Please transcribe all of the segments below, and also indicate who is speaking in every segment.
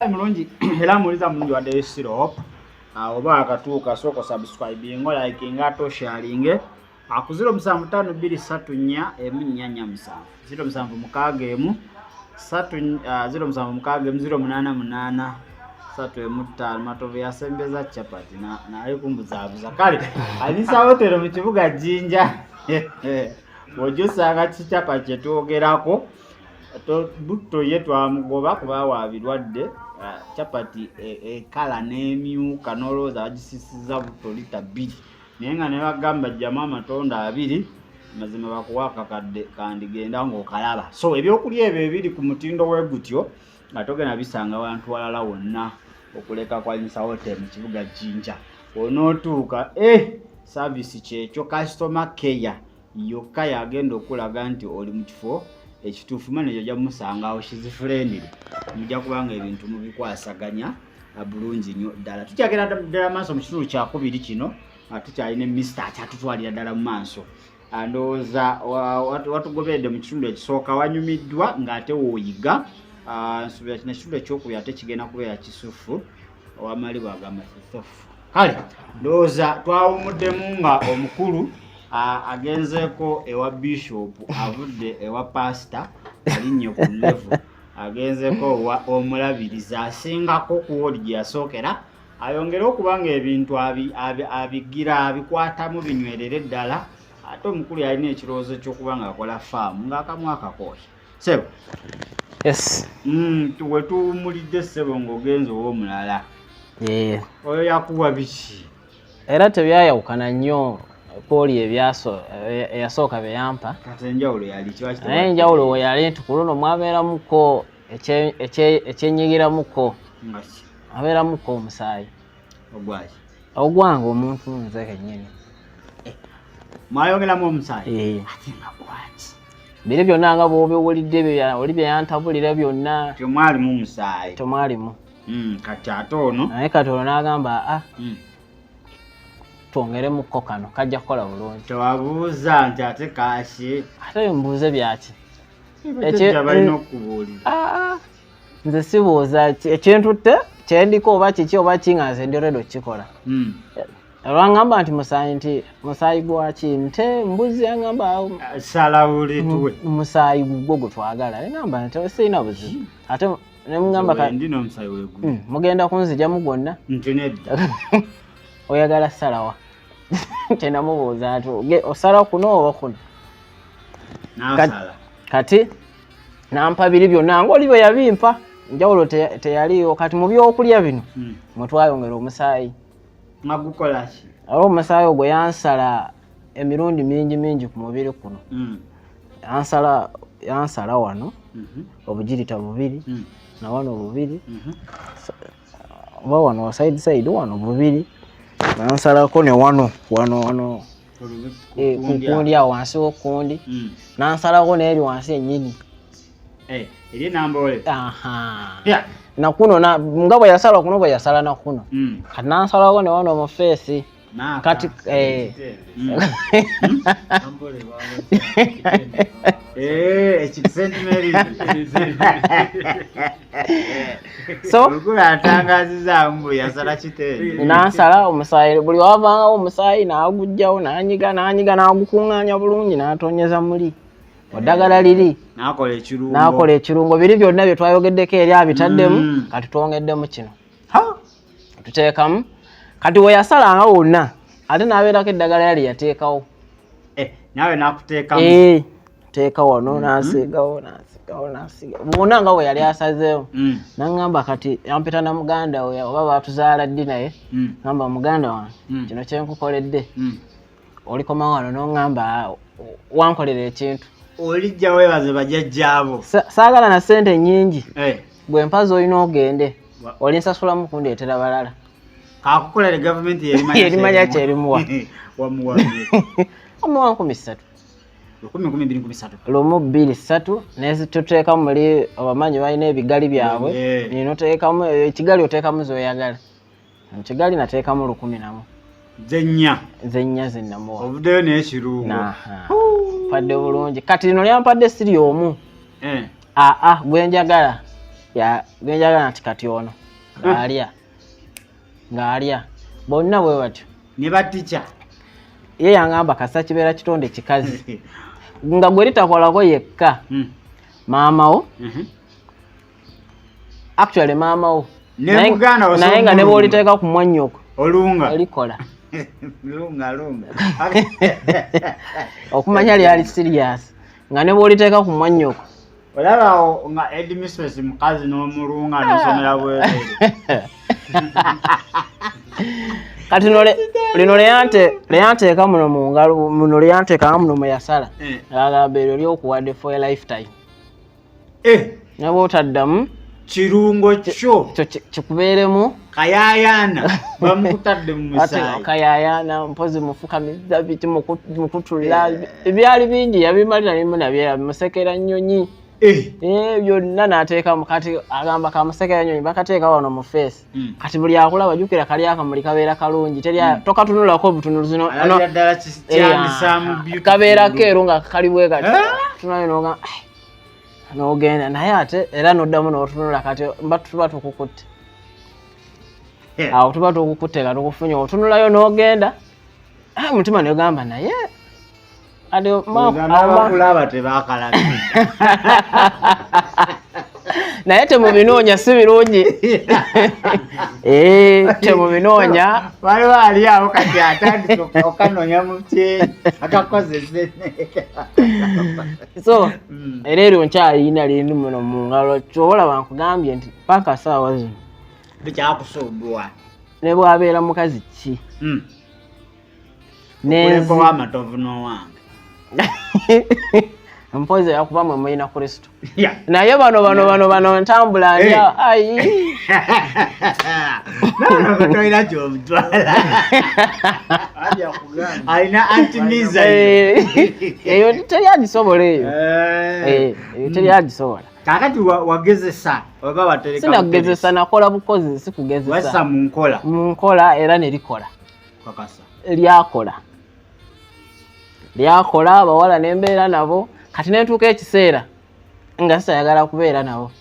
Speaker 1: mulungi era muwuliza mulungi wadde sirop ah, oba akatuuka sooka subscribing olikinga ate osharinge ah, ku ziro musanvu ttaano bbiri ssatu nnya emu nnya nnya musanvu ziro musanvu mukaaga emu ssatu ah, ziro musanvu mukaaga emu ziro munaana munaana ssatu emu ttaano matovu yasembeza capati naye kumbuzaabuza kale alisa hotero mu kibuga jjinja ojja osanga kicapa kye twogerako butto ye twamugoba kuba wa birwadde capati e, ekala n'emyuka n'olowooza bagisisiza butto lita bbiri naye nga ne bagamba jjamu amatondo abiri mazima bakuwa akakadde kandigenda ng'okalaba so ebyokulya ebyo ebiri ku mutindo we gutyo nga togenda bisanga abantu walala wonna okuleka kwanyisa hotel mu kibuga jinja onootuuka e eh, saavisi kyekyo kasitoma keya yokka yagenda okulaga nti oli mu kifo ekituufu maneja ojja kumusanga awo shizifurendire mujja kubanga ebintu mubikwasaganya bulungi nnyo ddala tukyagera ddala maaso mu kitundu kyakubiri kino tukyalina emisita akyatutwalira ddala mu maaso ndowooza watugoberedde mu kitundu ekisooka wanyumiddwa ng'ate wooyiga nsuubira kino ekitundu ekyokubiri ate kigenda kubeera kisufu owamali bwagamba sisofu kale ndowooza twawumuddemu nga omukulu agenzeeko ewa bishopu avudde ewa pasita alinnye ku levu agenzeeko owa omulabirizi asingako ku woodi gye yasookera ayongere okuba nga ebintu abigira abikwatamu binywerere ddala ate omukulu yalina ekirowoozo ky'okuba ng'akola faamu ng'akamu akakooya Sebo. Yes.
Speaker 2: Mm, tuwe tu
Speaker 1: mulide sebo ngogenzo wo mulala. Yeah. Oyo yakuwa biki? Era
Speaker 2: tebyayawukana nnyo pooli ebyaso eyasooka e, bye yampa. Kati enjawulo yali
Speaker 1: kiwa kitwa. Naye enjawulo we yali
Speaker 2: nti ku luno mwabeeramuko ekyenyigiramuko. Ngaki. Abeeramuko omusaayi. ogwaki
Speaker 1: ogwange
Speaker 2: omuntu nze kenyini eh, mwayogeramu
Speaker 1: omusaayi eh. ate nga
Speaker 2: gwaki biri byonna nga bwobiwulidde oli byeyantabulira byonna temwalimu musaayi
Speaker 1: temwalimu
Speaker 2: hmm, kati ate
Speaker 1: ono naye kati ono n'agamba
Speaker 2: a ah, hmm. twongeremuko kano kajja kukola bulungi tewabuuza nti
Speaker 1: ate kaaki ate mbuuze
Speaker 2: byaki ekyo
Speaker 1: balina okubuulira ah, ah. nze
Speaker 2: sibuuza ekintutte kyendiko oba kiki oba ki nga nze ndi redo kukikola hmm. olwangamba nti musaayi nti musaayi gwaki nte mbuzi yangamba salawulituwe
Speaker 1: musaayi
Speaker 2: gugwo gutwagala ngamba nti sirina buzibu ate nemugamba hmm, mugenda kunzijamu gwonna
Speaker 1: oyagala
Speaker 2: salawa tenamubuuza nti osala kuno oba kuno kati nampa biri byonna ngaoli bwe yabimpa njawulo teyaliiwo kati mu byokulya bino hmm. mwe twayongera omusaayi magukolaki
Speaker 1: olwo omusaayi
Speaker 2: ogwo yansala emirundi mingi mingi ku mubiri kuno hmm. yansala yansala wano mhm. obugirita bubiri hmm. na wano bubiri mhm. oba wano side side wano bubiri nansalako ne wano wano wano eh, kukundi awo wansi wokundi hmm. nansalako neeri wansi enyini
Speaker 1: eh,
Speaker 2: nakuno nga bweyasala kuno bweyasala nakuno hmm. kati nansalako ne wano mufeesi kati eh.
Speaker 1: mm. eh, nansala omusaayi
Speaker 2: buli wavangawo omusaayi nagujjawo nanyiga nanyiga nagukunganya bulungi natonyeza muli oddagala liri nakola ekirungo biri byonna byetwayogeddeko eri abitaddemu mm. kati twongeddemu kino tuteekamu kati weyasalanga wonna ate nabeerako eddagala yali yateekawo eh, nawe
Speaker 1: nakuteekamu eh, teeka
Speaker 2: wano mm-hmm. nasigawo nasigawo nasiga bwona nga weyali asazeewo mm. naŋamba kati ampita na muganda we oba batuzaala ddi naye mm. ŋamba muganda wange mm. kino kyenkukoledde olikomawo wano n'oŋŋamba wankolera ekintu olijja weebaze
Speaker 1: bajajjaabo saagala na ssente
Speaker 2: nnyingi eh. gwe mpazi olina ogende olinsasulamu kundeetera balala kakukola le
Speaker 1: gavumenti yerimanya kyerimuwa
Speaker 2: omuwa nkumi ssatu lumu bbiri ssatu netuteekamu muli abamanyi balina ebigali byabwe ninoteekamu ekigali oteekamu zoyagala mu kigali nateekamu lukumi namu zennya zennya zennamuwa ovudeyo naye
Speaker 1: kirungu
Speaker 2: padde bulungi kati lino lyampadde siri omu eh. aa ah, ah, gwenjagala gwenjagala nti kati ono ngaalya eh. ngaalya bonna bwe batyo ne batica
Speaker 1: ye
Speaker 2: yangamba kasa kibeera kitonde kikazi nga gwe litakolako yekka hmm. maamawo mhm. actually maama wo naye nga ne bwoliteeka ku mwannyoko olunga olikola lunga
Speaker 1: lunga
Speaker 2: okumanya lyali siriyasi nga ne bwoliteeka ku mwannyoko olabawo
Speaker 1: nga edmistress mukazi n'omulunga nosomera bwerere
Speaker 2: kati lino leyanteeka muno mungalo muno leyanteeka nga muno mweyasala eh. agamba eryo lyokuwadde for a lifetime eh. naba otaddamu kirungo
Speaker 1: kyo kikubeeremu
Speaker 2: kayayaana
Speaker 1: bamukutadde mumusayikayayaana mpozi
Speaker 2: mufukamizza biti mukutula eh. ebyali bingi yabimali nabimu nabyera bimusekera nnyonyi Eh. Eh, byonna nateekamu kati agamba kamusekera nyonyi bakateeka wano mu feesi hmm. kati buli akulaba jukira kali akamuli kabeera kalungi hmm. tokatunulako obutunuzi eh, kabeera keeru nga kali bwe kati ah. tunayo noga n'ogenda naye ate era n'oddamu n'otunula kati mba tuba tukukutte awo tuba tukukutte nga tukufunye otunulayo n'ogenda ah, omutima negamba naye abakulaba
Speaker 1: tebakalaga
Speaker 2: naye temubinoonya si birungi eh, temubinoonya waliwo ali
Speaker 1: awo kati atandika okanoonya mukyeyi akakozese
Speaker 2: so mm. era eryo nkyalina lindi muno mu ngalo kyobola bankugambye nti paka saawa zino bikyakusumbua
Speaker 1: ne
Speaker 2: bwabeera mukazi ki mm.
Speaker 1: nenzamatovu nowange
Speaker 2: mpozi yakuba mwe mulina kristo naye bano bano bano bano ntambula ndya ayi
Speaker 1: tolina gyomutwala alina anti miza
Speaker 2: eyo teri agisobola eyo eyo teri agisobola kakati
Speaker 1: wagezesa oba watereka sinagezesa nakola
Speaker 2: bukozi sikugezesa wasa mu nkola mu
Speaker 1: nkola
Speaker 2: era ne likola kakasa
Speaker 1: lyakola
Speaker 2: lyakola abawala ne mbeera nabo kati ne ntuuka ekiseera nga sisayagala kubeera nabo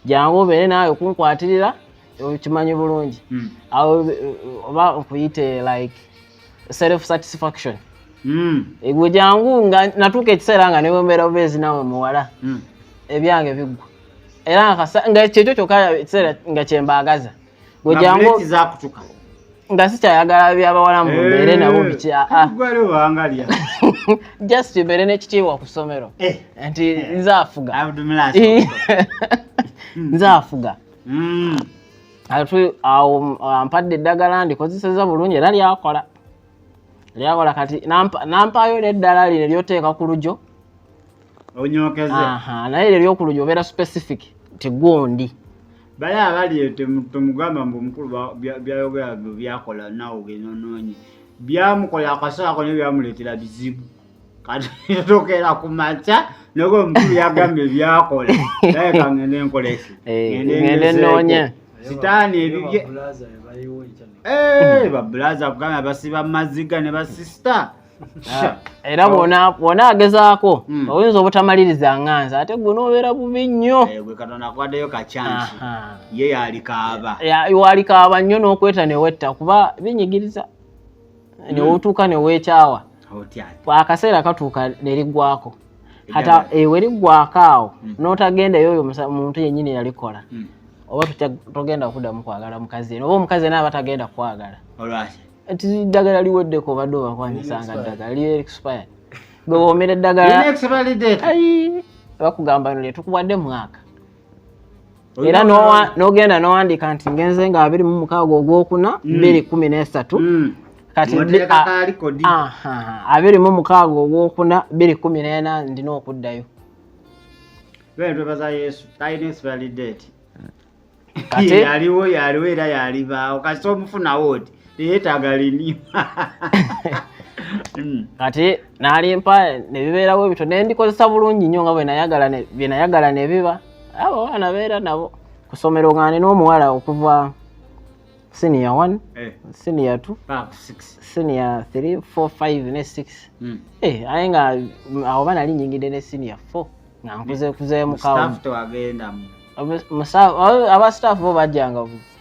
Speaker 2: jangu obeere naawe kunkwatirira okimanyi bulungi hmm. oba okuyite like self satisfaction hmm. egwe jangu nga natuuka ekiseera nga newembeera obeezi nawe muwala hmm. ebyange biggwa era nga kyekyo kyokka ekiseera nga kyembaagaza gwe jangu nga sikyayagala byabawala mu mbeere eh, nabo bikyaagalya just mbeere n'ekitiibwa ku ssomero eh. nti eh. nze afuga nze afuga mm. ate awo ampadde eddagala ndikozeseza bulungi era lyakola lyakola kati nampaayo neddala lino lyoteeka ku lujo naye lyo lyoku lujo obeera specific tigundi bali
Speaker 1: abali temugamba mbu omukulu byayogera byakola nawe ogenda onoonye byamukola akasaako nebyamuleetera bizibu kati yatokera ku makya naye omukulu yagamba ebyakola naye kangende enkoleki ngende
Speaker 2: nonya sitaani
Speaker 1: ebibye eh, babulaza kugamba basiba maziga ne basisita ah,
Speaker 2: era bwona agezaako hmm. oyinza obutamaliriza nganza ate gwe nobeera bubi nnyo eh, gwe katonda akuwaddeyo
Speaker 1: kacyansi ye yalikaaba walikaaba
Speaker 2: nnyo n'okweta newetta kuba binyigiriza hmm. newotuuka newekyawa akaseera katuuka neriggwako hata ewe eh, liggwako awo hmm. notagendayo oyo muntu yenyini yalikola hmm. oba togenda kudamu kwagala mukazi oba omukazi naaba tagenda kwagala ti ddagala liweddeko obadde obakwanyisanga ddagala li expired gwe womera eddagala bakugamba no lyetukuwadde mwaka era nogenda nowandika nti ngenze nga abiri mu mukaaga ogwokuna mm. bbiri kumi n'esatu mm. kati abiri mu mukaaga ogwokuna bbiri kumi n'ena ndina okuddayo
Speaker 1: yaliwo yaliwo era yalibaawo kasita omufunawo oti teyeetaaga lini hmm.
Speaker 2: kati nalimpa nebibeerawo ebito nendikozesa bulungi nnyo nga bwenayagala nebiba abo abaana beera nabo kusomero nga nina omuwala okuva senior one eh. senior two senior three four five ne six hmm. eh, aye nga awo ba nali nyingidde ne senior four nga nkuze kuzeemukawo aba staff bo bajjanga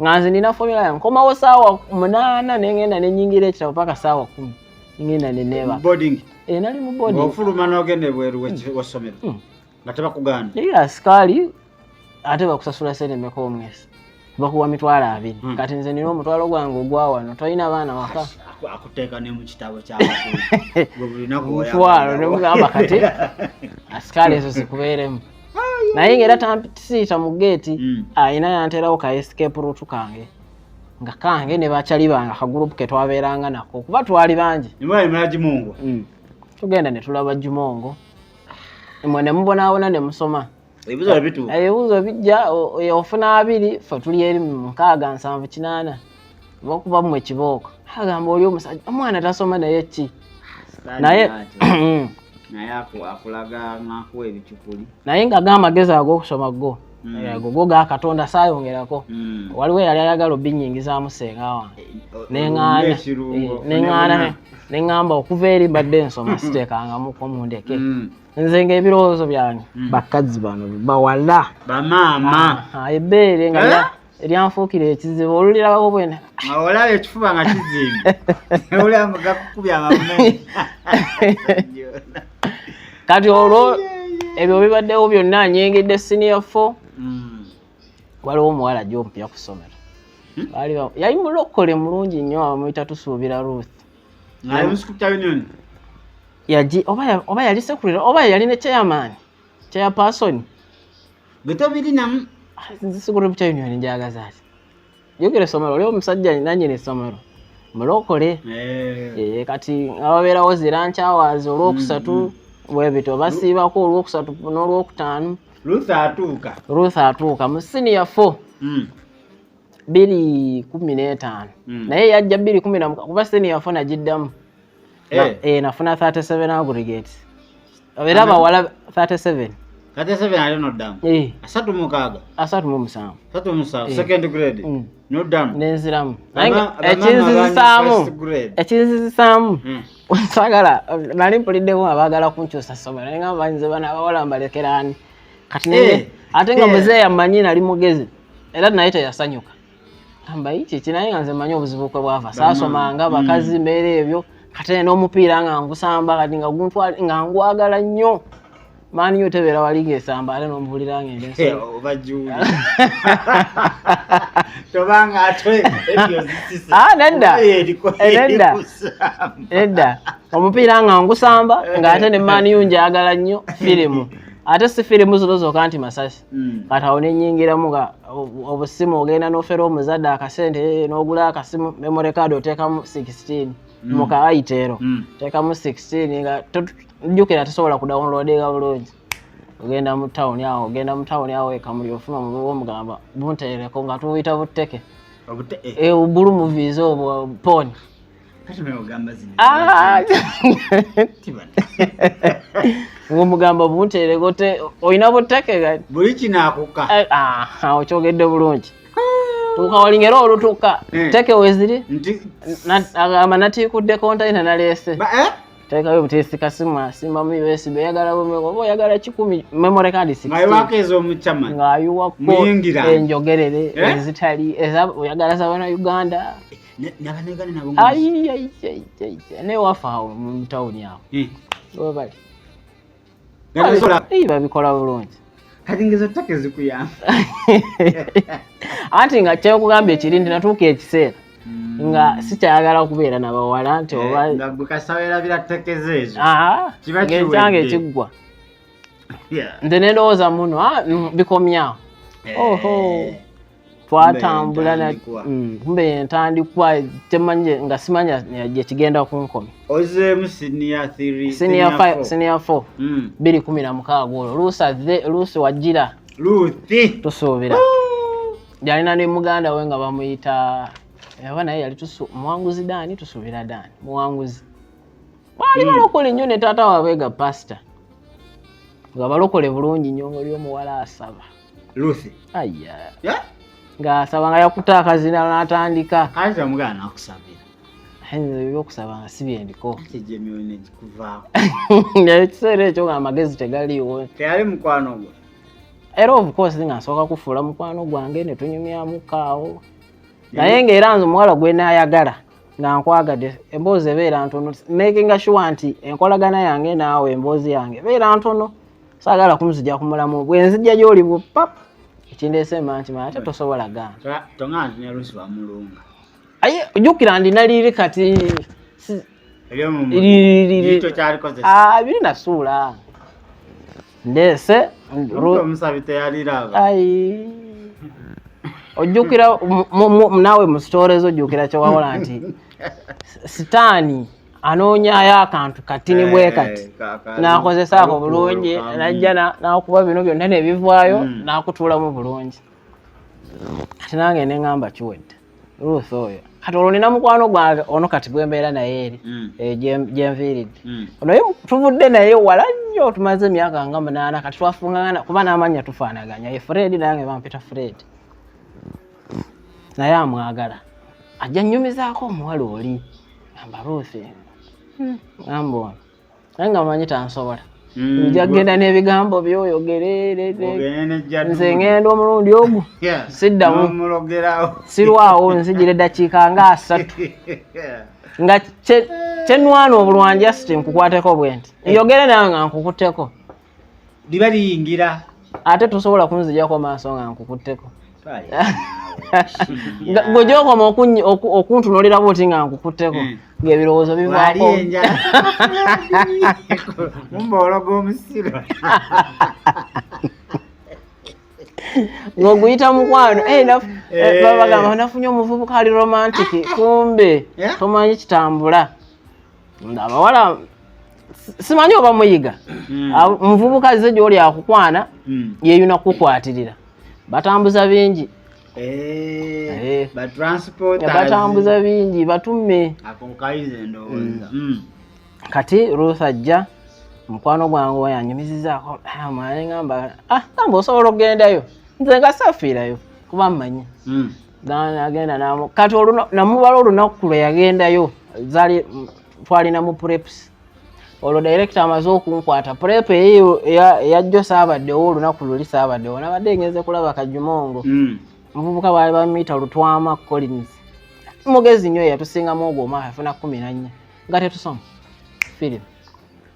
Speaker 2: nga nze nina formula yange nkomawo saawa munaana nengenda nenyingira ekitabo paka saawa kumi ngenda neneba eh, nali mu bodingofuluma nogenda ebweru
Speaker 1: hmm. wasomero hmm. nga tebakuganda naye asikaali
Speaker 2: ate bakusasula sente meka omwezi bakuwa mitwalo abiri hmm. kati nze nina omutwalo gwange ogwawano tolina baana waka akuteeka ne mu
Speaker 1: kitabo kyamutwalo
Speaker 2: nemugamba kati asikaali ezo zikubeeremu naye ngaera tampisiita mu geeti mm. alina yanterawo ka escape root kange nga kange ne bacali bange akagurupu ke twabeeranga nako kuba twali bangi mm.
Speaker 1: tugenda ne
Speaker 2: tulaba jumongo mwe ne mubonaabona ne musoma ebibuzo
Speaker 1: bijja
Speaker 2: ofuna abiri fe tuli eri mukaaga nsanvu kinaana lwakuba mmwe kibooko agamba oli omusajja omwana tasoma naye ki naye naye
Speaker 1: akulaga ngakuwa ebicupuli naye nga ga amagezi
Speaker 2: ag'okusoma go yego hmm. go ga katonda saayongerako hmm. waliwo eyali ayagala obinyingizaamu senga wange neŋaana eh, neŋamba okuva eri mbadde nsoma siteekangamuko mundeke hmm. nze ngaebirowoozo byange bakadzi bano bawala bamaama
Speaker 1: ah, ah, ebeere nga
Speaker 2: eh? eryanfuukira ekizibu olulirabako bwena olaba ekifuba
Speaker 1: nga kizimbiolmugakukubya amamunene
Speaker 2: kati olwo ebyo bibaddewo byonna anyengedde siniya fo hmm. waliwo omuwala gyompya ku ssomero hmm? yali mulokole mulungi nnyo amuyita tusuubira ruth oba yali sekulira oba yali ne chairman chairperson
Speaker 1: gwetobirinamu ah, nze sigula
Speaker 2: obukya union njagaza ati jukira essomero oli omusajja nanyini essomero mulokole eh. Eh, kati ababeerawo zirankyawazi olwokusatu mm, mm. bwebito basiibako olwokusatu n'olwokutaano ruth atuuka ruth atuuka mu siniya fo mm. biri kumi n'etaano naye yajja biri kumi namuka kuba siniya fo nagiddamu na, eh. eh, nafuna 37 aggregate era bawala 37 37 ali
Speaker 1: noddamu eh. asatu mukaaga asatu mu musanvu asatu mu musanvu eh. second grade mm. noddamu nenziramu
Speaker 2: ekinzizisaamu ekinzizisaamu mm. sagala nali mpuliddemu abaagala kunkyusa ssomero naye nga mbanyize bana abawala mbalekeraani kati naye eh. ate nga eh. muzeeyi amanyi nali mugezi era naye teyasanyuka mbayiti kinaye nga nze manyi obuzibu kwe bwava saasomanga mm. bakazi mbeera ebyo kate n'omupiira nga ngusamba kati nga guntwali nga ngwagala nnyo maani yo tebeera wali ngaesamba ate nomubulira nga
Speaker 1: enedda
Speaker 2: nedda omupiira nga ngusamba nga ate ne maani yo njagala nnyo firimu ate si firimu zino zoka nti masasi Mm. kati awo nenyingiramu nga obusimu ogenda nofera omuzadde akasente eh, nogula akasimu memory card otekamu 16 mm. muka aitero mm. tekamu 16 nga jukira tosobola kudownloadinga bulungi ogenda mu town awo ogenda mu town awo ekamuli ofuna omugamba buntereko nga tubuyita buteke eh. eh, bulu muviiza obwo poni Ah! ngomugamba obuntereko te olina buttake gati buli kinakuka
Speaker 1: eh, ah, okyogedde
Speaker 2: bulungi tuuka walinga era olutuuka eh. teke weziri agamba natiikudde kontaina naleese eh? tekayo butesi kasimu asimba mu USB yagala bumeko bo yagala kikumi memory card six ngayo wakezo omuchama
Speaker 1: ngayo wako
Speaker 2: enjogerere eh? ezitali eza yagala za bana Uganda
Speaker 1: nabanegana nabo
Speaker 2: naye wafa awo mutawuni awo eh. webali babikola bulungi kati ngezo take
Speaker 1: zikuyamba
Speaker 2: anti nga kyekugamba ekiri nti natuuka ekiseera hmm. nga sikyayagala kubeera nabawala nti eh,
Speaker 1: obaekyange
Speaker 2: kiggwa nze nendowooza muno ah, bikomyawo eh. twatambula mm, kumbe yentandikwa temanye nga simanya gyekigenda kunkomi ozeemu sinior 4 mm. biri kumi na mukaaga olwo luusi wajjira tusuubira
Speaker 1: yalina
Speaker 2: ne muganda we nga bamuyita aba naye yali muwanguzi daani tusuubira daani muwanguzi baali mm. balokole nnyo ne taata waabwe ga pasita nga balokole bulungi nnyo ngaoli omuwala asaba Lucy.
Speaker 1: Aya. Ya?
Speaker 2: Nga asaba nga yakuta akazina n'atandika. Kaza omugana
Speaker 1: akusabira. Henzo byo
Speaker 2: kusaba nga si byendiko. Ate je myone
Speaker 1: kikuvaako. Nga ekiseera
Speaker 2: ekyo nga amagezi tegaliiwo. Teyali mukwano gwo.
Speaker 1: Era of
Speaker 2: course nga nsooka kufuula mukwano gwange ne tunyumyamu kaawo. Naye nga era nze omuwala gwe naayagala nga nkwagadde emboozi ebeera ntono making sure nti enkolagana yange naawe emboozi yange ebeera ntono. saagala kumuzija ku mulamu bwe nzija gy'oli bwo pap ekindeese mba nti manya ate tosobola gaana tongana nti ne lusi
Speaker 1: bamulunga aye
Speaker 2: jjukira ndi naliri kati biri nasuula ndeese ojjukira naawe mu sitoorezo ojjukira kyewawola nti sitaani anoonyayo akantu kati ni bwe eh, kati n'akozesa ako bulungi najja n'akuba bino byonna ne bivaayo hmm. n'akutuulamu bulungi kati nange ne ŋamba kiwedde ruth oyo kati olwo nina mukwano gwange ono kati gwembeera naye eri hmm. eh, gyenviiridde hmm. onoye tuvudde naye wala nnyo tumaze emyaka nga munaana kati twafungagana kuba n'amanya tufaanaganya ye fred nange bampita fred naye amwagala ajja nyumizaako omuwala oli gamba ruuthi hmm. gamba ono naye nga manyi tansobola hmm. nja genda n'ebigambo byoyogerenze ngenda omulundi ogu siddamu sirwawo nzijira eddakiika nga asatu nga kyenwana obulwanjasiti nkukwateko bwenti njogere nawe nga nkukutteko liba
Speaker 1: liyingira ate tosobola
Speaker 2: kunzijako maaso nga nkukutteko gwe gyokoma okuntunulira buti nga nkukutteko hmm. ngaebirowoozo bivakomumbologa
Speaker 1: omusiro
Speaker 2: ng'oguyita mukwano eh, eh, eh. babagamba nafunye omuvubuka ali romantic kumbe tomanyi kitambula abawala simanyi oba muyiga hmm. omuvubuka aze gyoli akukwana hmm. yeyuna kukwatirira batambuza bingi eh, eh. batambuza bingi batume hmm. kati ruth ajja mukwano gwange wayanyumizizaako ah, mwaneamba ah, amba osobola okugendayo nze nga safiirayo kuba mmanyi agenda namu kati namubala olunaku lwe yagendayo zali twalina mu preps olwo directo amaze okunkwata prep eyo eyajjo saabaddewo olunaku luli saabaddewo nabadde ngenze kulaba kajumongo hmm. muvubuka baali bamiita lutwama collins mugezi nyo eyatusingamu ogwo omwaka afuna kumi nannya nga tetusoma firimu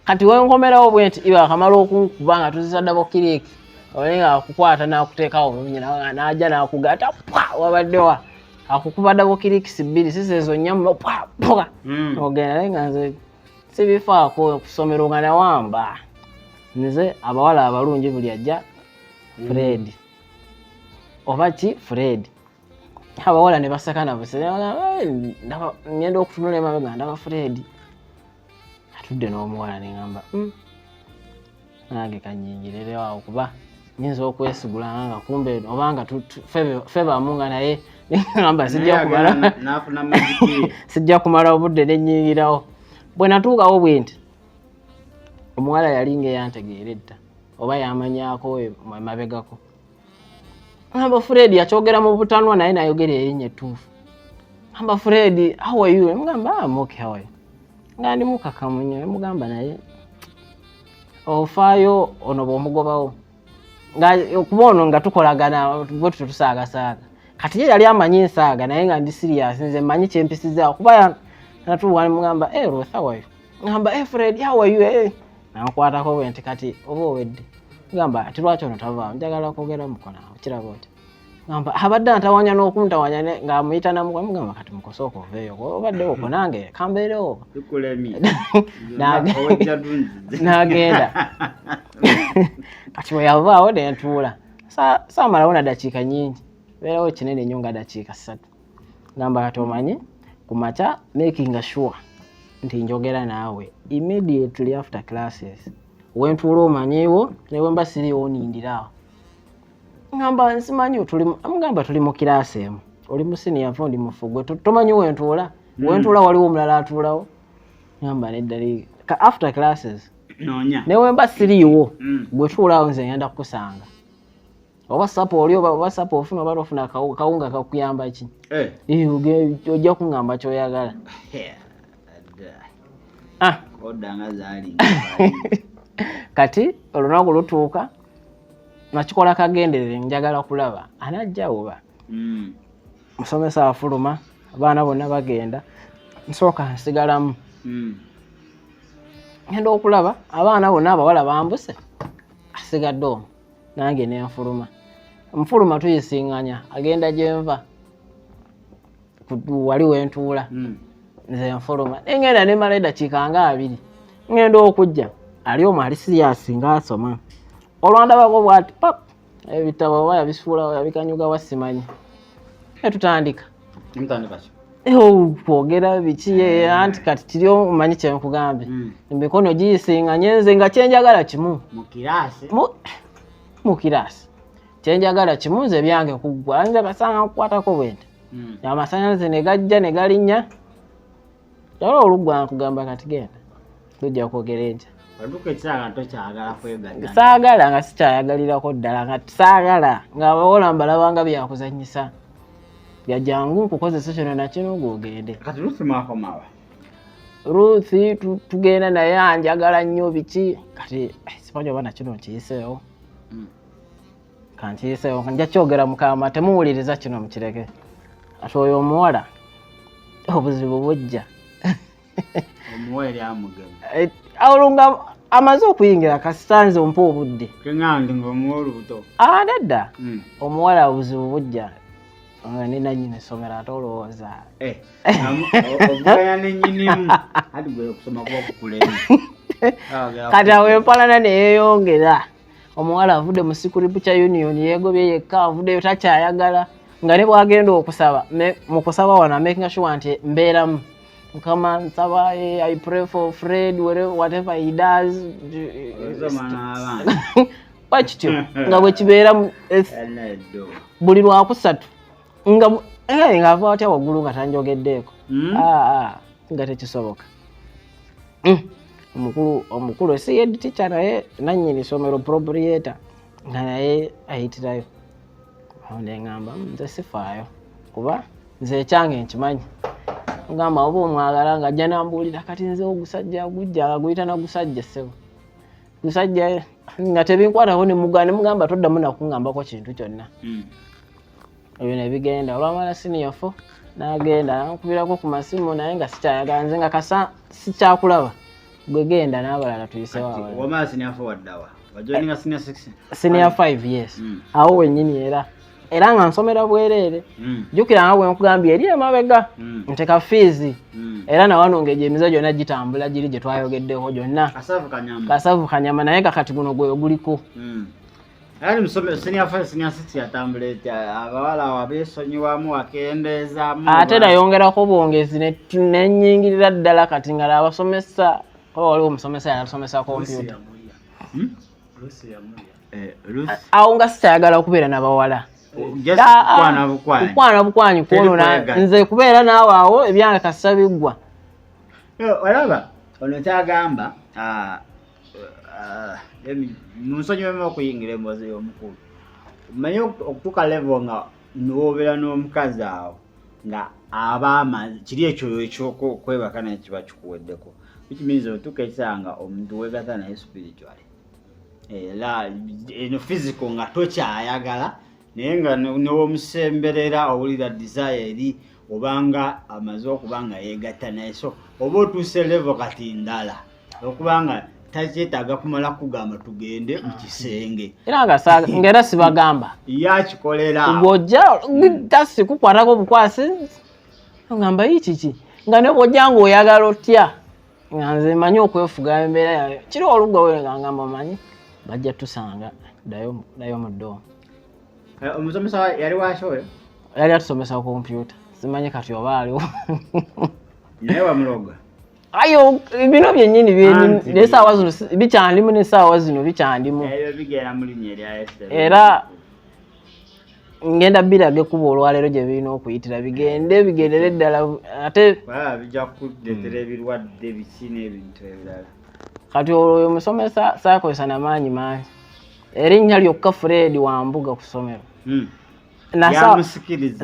Speaker 2: kati wenkomerawo bwe nti iba akamala okunkuba nga tuzisa dabo kiriki ole nga akukwata nakuteekawo bulungi nawe naja nakugata pwa wabadde wa akukuba dabo kirikisi bbiri sisi ezo nyamma pwa pwa hmm. ogenda naye nga nze sibifaako kusomero nga nawamba nze abawala abalungi buli ajja hmm. fred oba ki fred abawala ne baseka nabusengenda okutunula emabega ndaba fred atudde n'omuwala ne ŋamba hmm, nange kanyingirerewawo kuba nyinza okwesigula nga kumbe oba nga fe bamu nga naye ŋamba sijja kumala obudde nenyingirawo bwe natuukawo bwe nti omuwala yali nga eyantegeera edda oba yamanyako emabegako Amba Fred yakyogera mu butanwa naye nayogera erinnya ettuufu. Amba Fred, how are you? Mugamba, I'm okay, how are you? Nga ndi mukakamu nnyo, mugamba naye ofaayo ono bw'omugobawo. Nga okuba ono nga tukolagana bwe tutyo tusaagasaaga. Kati ye yali amanyi ensaaga naye nga ndi siriyaasi nze mmanyi kyempisizaawo kuba natuuwa ne mugamba, eh Ruth, how are you? ngamba hey eh, Fred how are you hey. Eh? namukwatako bwe nti kati oba owedde ngamba ati lwaki ono tavaamu njagala okwogera mukola okiraba oti ngamba abadde antawanya n'okuntawanya ng'amuyita namukwamu gamba kati mukosooka oveeyo obadde okwo nange kambeerewo n'agenda kati bwe yavaawo ne ntuula saamalawo na dakiika nyingi beerawo kinene nnyo nga dakiika ssatu gamba kati omanyi ku makya making sure nti njogera naawe immediately after classes wentuula omanyiiwo newemba siriiwo nindirawo ngamba nsimanyi mugamba tuli mu kiraasi emu oli musiniyavu ndi mufugwe tomanyi wentuula hmm. wentuula waliwo omulala atuulawo ngamba neddali ka after classes newemba
Speaker 1: siriiwo
Speaker 2: hmm. gwetuulaawo nze ngenda kukusanga oba sapa oli oba sapa ofuna oba lofuna kawunga kakuyamba ki eh. ojja kuŋamba kyoyagala
Speaker 1: ah.
Speaker 2: kati olunaku lutuuka nakikola kagenderere njagala kulaba anajja oba hmm. musomesa afuluma abaana bonna bagenda nsooka nsigalamu hmm. ngenda okulaba abaana bonna abawala bambuse asigadde omu nange nenfuluma nfuluma tuyisinganya agenda gyenva wali wentuula hmm. nze nfuluma nengenda nemala edakiika nga abiri ngenda okujja ali omu ali siyasi nga asoma olwandabako bwati pap ebitabo oba yabisuula yabikanyuga wasimanyi etutandika kwogera biki eh. anti kati kiri omanyi kyenkugambye hmm. emikono giyisinganye nze nga kyenjagala kimu mu kiraasi kyenjagala kimu nze byange kuggwa nze basanga nkukwatako bwente hmm. amasanyalaze ne gajja ne galinnya Nawe olugwa nkugamba kati genda. Tujja kwogera enkya. Oduka ekisaala tokyagala kwegatta. Saagala nga sikyayagalirako ddala nga saagala nga abawola mbalaba nga byakuzannyisa. Bya jangu nkukozesa kino na kino gwogende. Kati Ruthi mwakomawa? Ruthi tugenda naye anjagala nnyo biki kati eh, simanyi oba na kino nkiyiseewo. Mm. kankiyiseewo nja kyogera mukama temuwuliriza kino mukireke ati oyo omuwala obuzibu bujja eh, olunga amaze okuyingira kasitanze ompa obudde adadda ah, hmm. omuwala obuzibu bujja nga ne nanyini essomero ate olowooza eh, obugaya nenyinimu ati gwe okusoma kuba kukulemu kati awo empalana neyeyongera omuwala avudde mu sikuripu kya union yegobye yekka avuddeyo takyayagala nga ne bwagenda okusaba mu kusaba wano amakinga shuwa nti mbeeramu mukama nsaba eh, i pray for fred whatever he does wakityo nga bwekibeeramu buli lwakusatu nga eh, nga ava watya waggulu nga tanjogeddeeko hmm? ah, ah, nga tekisoboka hmm. omukulu omukulu esiyed tica naye nanyini somero proprieta nga naye ayitirayo awo neŋamba hmm, nze sifaayo kuba nze ekyange nkimanyi ngamba oba omwagala nga ajja nambuulira kati nze ogusajja gujja guyita nagusajja ssebo musajja nga tebinkwatako nemugana nemugamba toddamu nakungambako kintu kyonna hmm. ebyo nebigenda olwamala siniya fo nagenda nankubirako ku masimu naye nga sikyayagala nze nga kasa sikyakulaba gwegenda nabalala tuyisewaasiniya 5 yes hmm. awo wenyini era era nga nsomera bwereere hmm. jjukira nga bwe nkugambye eri emabega hmm. nteka fiizi hmm. era nawano nga egyo emize gyonna gitambula giri gye twayogeddeko gyonna kasavu kanyama naye kakati guno gwe oguliko ali musome senior five senior six yatambula etya abawala wabesonyiwamu wakendeezamu ate nayongerako obwongezi nenyingirira ddala kati ngala abasomesa oba waliwo omusomesa yanasomesa kompyuta hmm? eh, awo nga sikyayagala okubeera nabawala kukwana bukwanyi kwonona nze kubeera naawe awo ebyange kasita biggwa
Speaker 1: olaba ono kyagamba ah, ah, munsonyiwemu okuyingira emboozi y'omukulu manye okutuuka levo nga niwobeera n'omukazi awo nga abaama kiri ekyo ekyokwebaka naye kiba kikuweddeko which means otuuka ekisaa nga omuntu wegata naye spiritually era eno fiziko nga tokyayagala naye nga newomusemberera owulira desire eri obanga amaze okuba nga yegatta naye so oba otuuse levo kati ndala okubanga takyetaaga kumala kugamba tugende mu kisenge era ngaera
Speaker 2: sibagamba yakikolera
Speaker 1: ngojja
Speaker 2: tasi kukwatako obukwasi ngamba yi kiki nga ne bwojja nga oyagala otya nga nze manyi okwefuga embeera yayo kiri olugga werenga ngamba manyi bajja tusanga dayo mu doo eh, omusomesa
Speaker 1: yali waki oyo yali atusomesa
Speaker 2: kompyuta simanyi kati oba aliwo
Speaker 1: naye wamuloga ayo
Speaker 2: bino byenyini nesaawa zino bikyandimu nesaawa
Speaker 1: zino
Speaker 2: bikyandimu
Speaker 1: era
Speaker 2: ngenda biraga ekkuba olwaleero gye birina okuyitira bigende bigendere ddala ate bijja kukuleetera
Speaker 1: ebirwadde biki n'ebintu ebirala kati olwo
Speaker 2: oyo musomesa saakozesa na maanyi mangi erinnya lyokka fred wambuga ku ssomero hmm.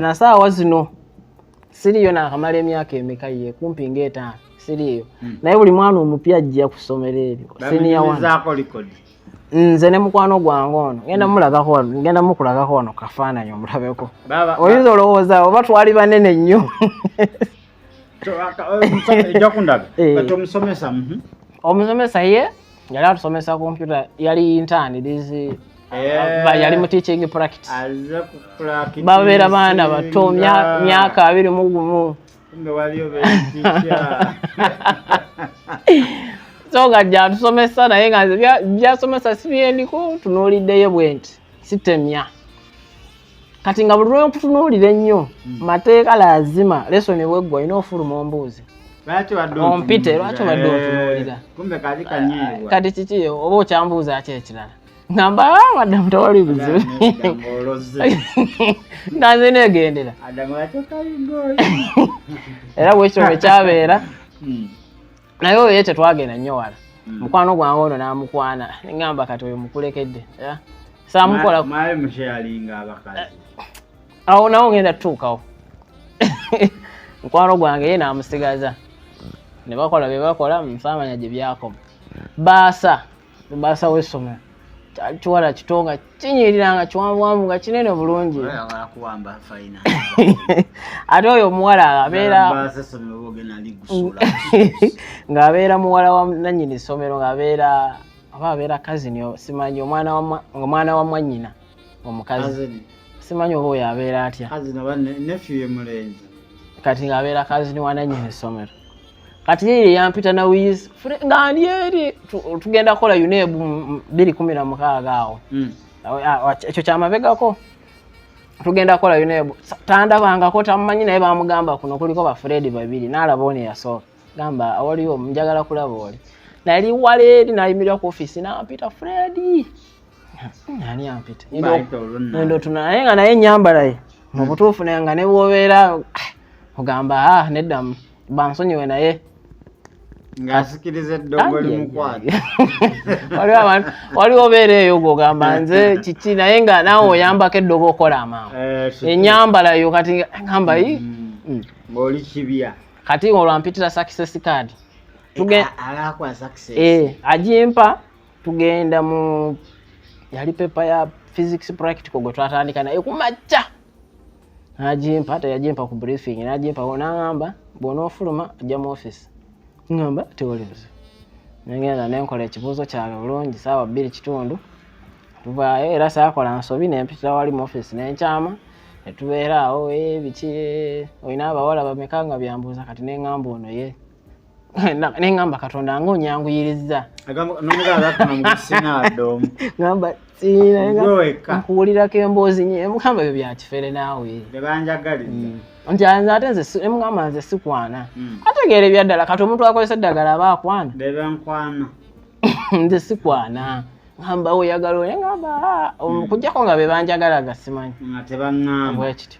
Speaker 2: na saawa zino siriyo nakamala emyaka emeka ye kumpi ngaetaano siriyo hmm. naye buli mwana omupya ajja ku ssomero eryo nze ne mukwano gwange ono genda hmm. mulagako genda mukulagako ono kafaananyi omulabeko oyinza olowooza oba twali banene nnyo omusomesa mhm. omusomesa ye yali atusomesa kompyuta yali intani dizi eh. yali mu teaching practice babeera baana bato myaka abiri mu gumu so nga gyatusomesa naye nga byasomesa si byeliko tunuuliddeyo bwenti sitemya kati nga buli lwenkutunuulira ennyo hmm. mateeka lazima lesoni bweggwa olina ofuluma ombuuzi ompite lwaki obadde ontunuulira eh, kati kiki oba okyambuuza ki ekirala ngamba ah, madamu tewali buzibu nanze negendera era bwekityo bwekyabeera hmm. naye oyo ye tetwagenda nnyo wala hmm. mukwano gwange ono n'amukwana ngamba kati oyo mukulekedde samukola
Speaker 1: awo
Speaker 2: nawo ngenda tutuukawo mukwano gwange ye n'amusigaza ne bakola bye bakola nsaamanya gye byakoma baasa lubaasa w'essomero kyali kiwala kito nga kinyirira nga kiwanvuwanvu nga kinene bulungi ate oyo omuwala abeera ng'abeera muwala wa nannyini ssomero ng'abeera aba abeera kazini simanyi omwana wa mwannyina omukazi simanyi oba oyo abeera atya kati ng'abeera kazini wa nannyini ssomero kati yeye yampita na wiz nga ali eri tugenda kukola UNEB biri kumi na mukaaga awo hmm. ekyo kyamabegako tugenda kukola UNEB tandabangako tamumanyi naye bamugamba kuno kuliko bafuredi babiri nalaba one yasooka gamba awaliwo njagala kulaba oli nali wala eri nayimirira ku ofisi nampita fredi ani ampita ndo tuna naye nga naye enyambalaye mubutuufu hmm. naye nga nebwobeera ah, ogamba ah, neddamu bansonyiwe naye
Speaker 1: ng'asikiriza eddongo limukwata
Speaker 2: waliwo obeera eyo gwogamba nze kiki naye nga naawe oyambako eddogo okola amaama eh, enyambala yo kati ngamba yi mm. mm.
Speaker 1: ng'oli kibya kati olwampitira
Speaker 2: sakisesi kaadi
Speaker 1: eh, eh, agimpa
Speaker 2: tugenda mu yali pepa ya physics practical gwe twatandika naye kumakya najimpa teyajimpa ku briefing najimpa nangamba bwonaofuluma ajja mu office ngamba tewali buzibu nengenda nenkola ekibuuzo kyange bulungi saawa bbiri kitundu tuvaayo era saakola nsobi nempitira wali mu office nenkyama netubeera awo ebiki olina abawala bameka nga byambuuza kati nengamba ono ye ne ŋŋamba katonda nga onyanguyirizza ŋamba nkuwulirako emboozi nye mukamba ebyo byakifere naawe mm. nti nze ate nze emugamba nze sikwana mm. ategeera ebyaddala kati omuntu akozesa eddagala aba akwana nze sikwana ŋamba oyagala oye ŋamba ah, okujjako mm. nga bebanjagala gasimanyi bwekityo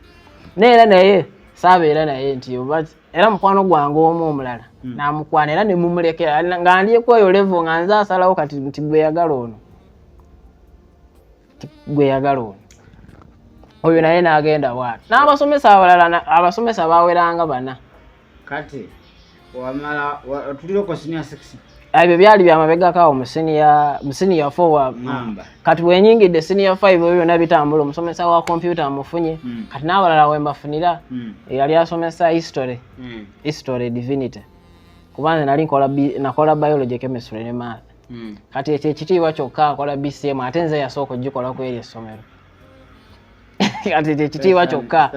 Speaker 2: naye era naye saabeera naye nti era mukwano gwange omu omulala hmm. namukwana era nemumulekera nga ndikweyo levo nga nze asalawo kati nti gweyagala ono gweyagala ono oyo naye nagenda waati n'abasomesa abalala abasomesa baweranga bana kati
Speaker 1: wamala otuliroko sinia 6 ebyo byali
Speaker 2: byamabegako awo musiniya fowa kati wenyingidde siniya five ebyo byona bitambula omusomesa wa kompyuta amufunye hmm. kati n'abalala wembafunira hmm. eyali asomesa history hmm. history divinity kuba nze nali nakola biology chemistry ne math kati ekyo ekitiibwa kyokka akola bcm ate nze yasooka okugikola ku eryo essomero kati kyekitiibwa kyokka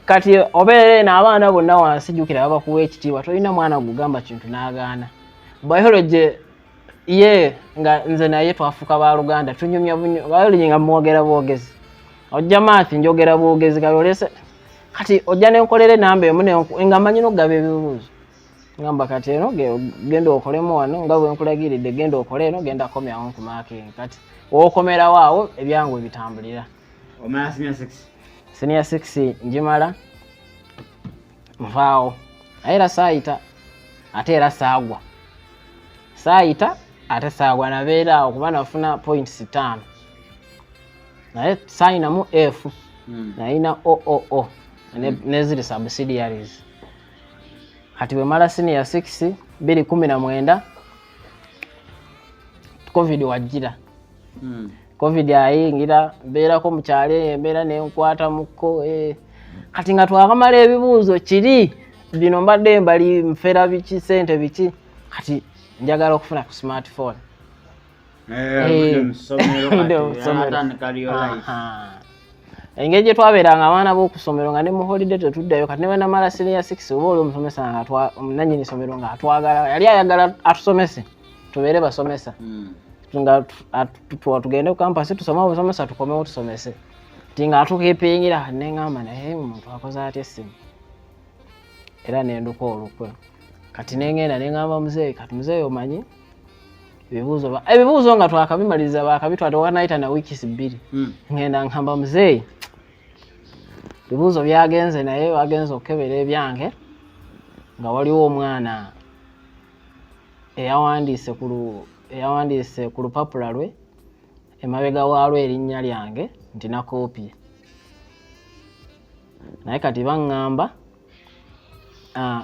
Speaker 1: kati obeera
Speaker 2: eno abaana bonna wansi jukira babakuwa ekitiibwa tolina mwana gugamba kintu n'agaana biology ye nga nze naye twafuuka baluganda tunyumya biology nga mwogera bwogezi ojja maathi njogera bwogezi kati olese kati ojja nenkolera enamba emu nga manyi nokugaba ebibuuzo ngamba kati eno genda okolemu wano nga bwe nkulagiridde genda okole eno genda komyawo nkumakingi kati wokomerawo awo ebyangu ebitambulira senior six njimala nvaawo naye era saayita ate era saagwa saayita ate saagwa nabeera awo kuba nafuna points ttaano naye saayinamu f hmm. nayina ooo neziri subsidiaries kati bwemala siniya 6 biri kumi na mwenda covid wajjira hmm. covid ayingira mbeerako mukyalo eyo embeera nenkwata mukko eh. kati nga twakamala ebibuuzo kiri bino mbadde mbali nfera biki sente biki kati njagala okufuna ku smartphone Eh, engeri gye twabeeranga abaana b'okusomero nga ne mu holiday tetuddayo kati ne bwenamala siniya six oba oli omusomesa nga nanyini somero nga atwagala yali ayagala atusomese tubeere basomesa hmm. nga tugende ku kampasi tusome obusomesa tukomewo tusomese ti nga atukipingira neŋamba naye omuntu akoze atya essimu era nenduka olukwe kati nengenda neŋamba muzeeyi kati muzeeyi omanyi ebibuuzo ebibuuzo nga twakabimaliza bakabitwala tewanayita na wiikisi bbiri hmm. ngenda nkamba muzeeyi ebibuuzo byagenze naye bagenze okukebera ebyange nga waliwo omwana eyawandiise ku eyawandiise ku lupapula lwe emabega waalwo erinnya lyange nti nakoopye naye kati baŋŋamba Ah,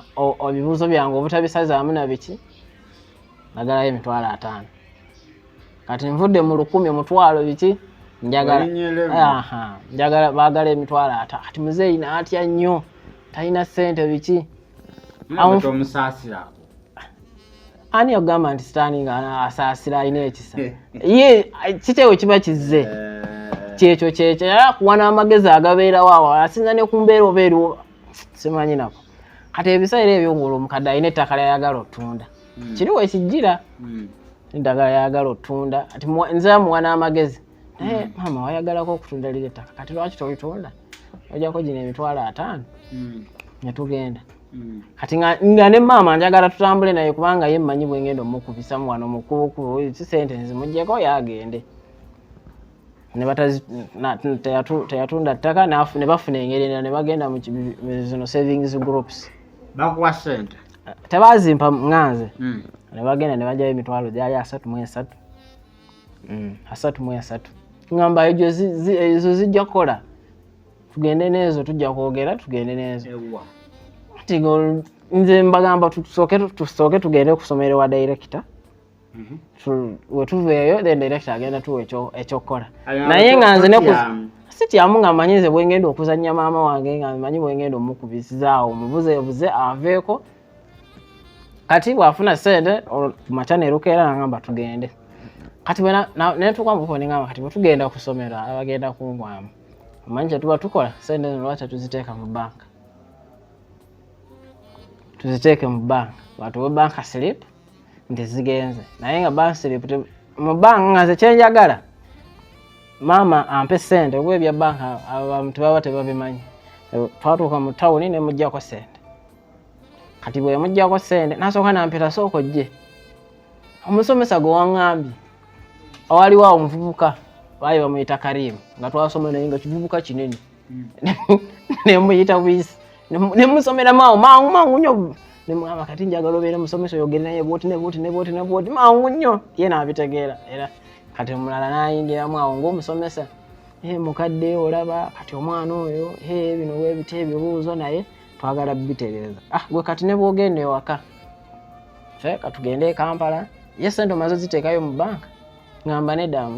Speaker 2: ebibuuzo byange obutabisaza wamu na biki nagalayo emitwalo ataano kati nvudde mu lukumi omutwalo biki njagala njagala bagala emitwalo ata kati muzeeyi naatya nnyo talina ssente biki omusaasirako ani yagamba nti sitaani nga asaasira alina ekisa ye kiteewo kiba kizze eh. kyekyo kyekyo era kuwa n'amagezi agabeerawo awo asinza ne ku mbeera oba eriwo simanyi nako kati ebiseera ebyo ngulu omukadde alina ettaka lyayagala otunda hmm. kiri wekijjira hmm. eddagala yayagala otunda ati nze amuwa n'amagezi naye hmm. maama wayagalako okutunda liri ettaka kati lwaki tolitunda ojako gino emitwalo ataano netugenda Mm. kati nga ne maama njagala tutambule naye kubanga ye mmanyi bwe ngenda omukubisamu wano mukubukubu si sente nzimugyeko yagende teyatunda ttaka ne bafuna engeri endala ne bagenda zino savings groups bakuwa sente
Speaker 1: tebazimpa
Speaker 2: nganze mm. ne bagenda ne bajayo emitwalo gyali asatu mu esatu mm, asatu mu esatu ngamba ezo zijja kukola tugende n'ezo tujja kwogera tugende n'ezo nze mbagamba tusooke tugende okusoma eri wa dayirekita mhm. wetuveeyo then dayirekita agenda tuwa ekyokukola naye nga nze si kyamu nga manyi nze bwengenda okuzannya maama wange nga manyi bwengenda omukubizaawo omubuzeebuze aveeko kati bwafuna sente kumakya nerukeera nagamba tugende kati bwenatuuka mukuoningamba kati bwetugenda kusomero abagenda kungwamu omanyi kyetuba tukola sente zino lwaki tuziteeka mu banka tuziteeke mu banka batuwe banka slip nti zigenze naye nga bank slip mu banka nga nze kyenjagala maama ampe sente oba ebya banka abantu baba tebabimanyi twatuuka mu tawuni nemugjako sente kati bwemugjako sente nasooka nampita sooka ojje omusomesa gwe waŋambye waliwo awo omuvubuka baali bamuyita karimu nga twasoma naye nga kivubuka kinene hmm. nemuyita wisi nemusomeramu awo mangu mangu nyo nemugamba kati njagala obeere musomesa oyogere naye bwoti nebwoti nebwoti nebwoti mangu nyo ye nabitegeera era kati omulala nayingiramu awo ngaomusomesa mukadde olaba kati omwana oyo bino webita ebibuuzo naye twagala bitereeza ah gwe kati ne bwogenda ewaka fe katugende e kampala ye sente omaze ziteekayo mu banka ngamba nedda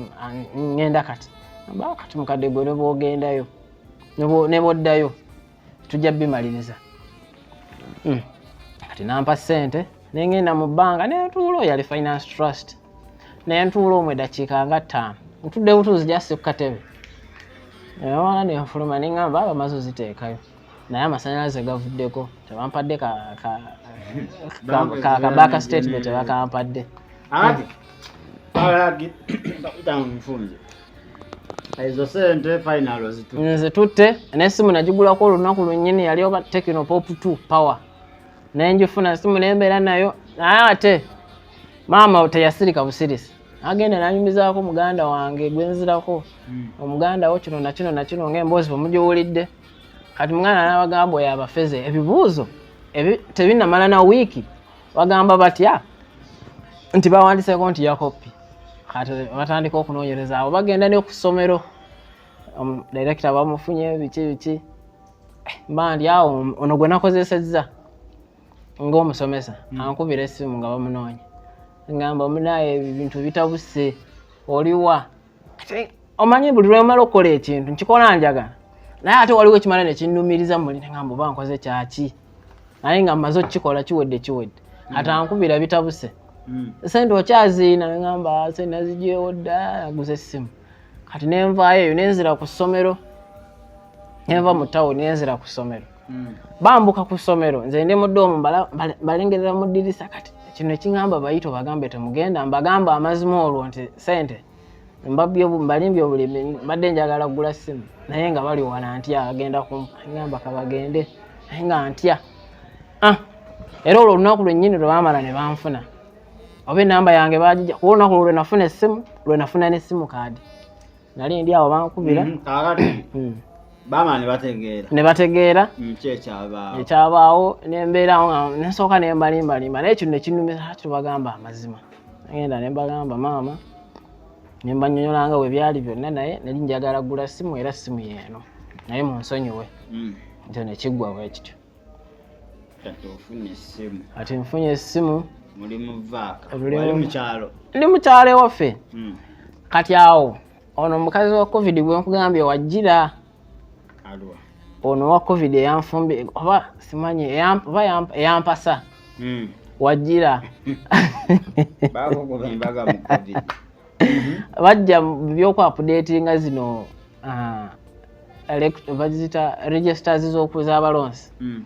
Speaker 2: ngenda kati amba ah, kati mukadde gwe ne bwogendayo ne bwoddayo tujja bimaliriza hmm. kati nampa sente nengenda mu bbanga nentuula oyo ali finance trust nentuula omwe dakiika nga ttaano ntudde butuuzi jassi ku katebe newaana nenfuluma nengamba abamaze oziteekayo naye amasanyalaze gavuddeko tebampadde kabaaka statement tebakampadde ezo
Speaker 1: sente final zitutte
Speaker 2: nesimu nagigulako olunaku lwenyini yali oba tekino pop t power naye njifuna simu nembeera nayo naye ate maama teyasirika busirisi agenda nanyumizaako muganda wange gwenzirako hmm. omuganda wo kino nakino nakino ngaemboozi bwemugiwulidde kati mwana nabagamba oyo abafeze ebibuuzo tebinamala na wiiki bagamba batya nti bawandiseko nti yakopi kati batandika okunonyereza abo bagenda nekusomero direkita bamufunye biki biki eh, mbandi awo ono gwe nakozesezza ngaomusomesa hmm. ankubira esimu nga bamunoonya ngamba munaye ebintu bitabuse oliwa omanyi buli lwemala okukola ekintu nkikola njaga naye ate waliwo ekimala nekinnumiriza muli nengamba oba nkoze kyaki naye nga mmaze okukikola kiwedde kiwedde mm. ate ankubira bitabuse mm. sente okyaziina nengamba se nazijewo dda aguze essimu kati nenvaayo eyo nenzira ku ssomero nenva mu tawuni nenzira ku ssomero hmm. bambuka ku ssomero nze ndi mudoomu mbalengerera mu ddirisa kati kino ekingamba bayito bagambe temugenda mbagamba amazima olwo nti sente mbalimbye obulimi mbadde njagala kugula simu naye nga bali wala ntya agenda kumpa kabagende naye nga ntya ah, era olwo olunaku lwennyini lwe bamala ne banfuna oba enamba yange bagija kuba olunaku lwenafuna essimu lwenafuna nesimu kaadi nali ndi awo bankubira mm-hmm. kakati
Speaker 1: mm. bama nebategeera nebategeera mm,
Speaker 2: kyekyabaawo ekyabaawo nembeerawo nsooka nembalimbalimba naye kino nekinumisa tubagamba amazima agenda nembagamba maama nembanyonyolanga webyali byonna naye nali njagala gula simu era simu yeeno naye munsonyiwe mm. nti nekiggwa bwekityo ati nfunye essimu ndi mu kyalo ewaffe hmm. kati awo ono omukazi wa covid gwenkugambye wajjira ono wa covid eyanfumbi oba simanyi oba eyampasa hmm. wajjira mhm. bajja byokwapudetinga zino ah, bazita registers zokuzabalonsi mm.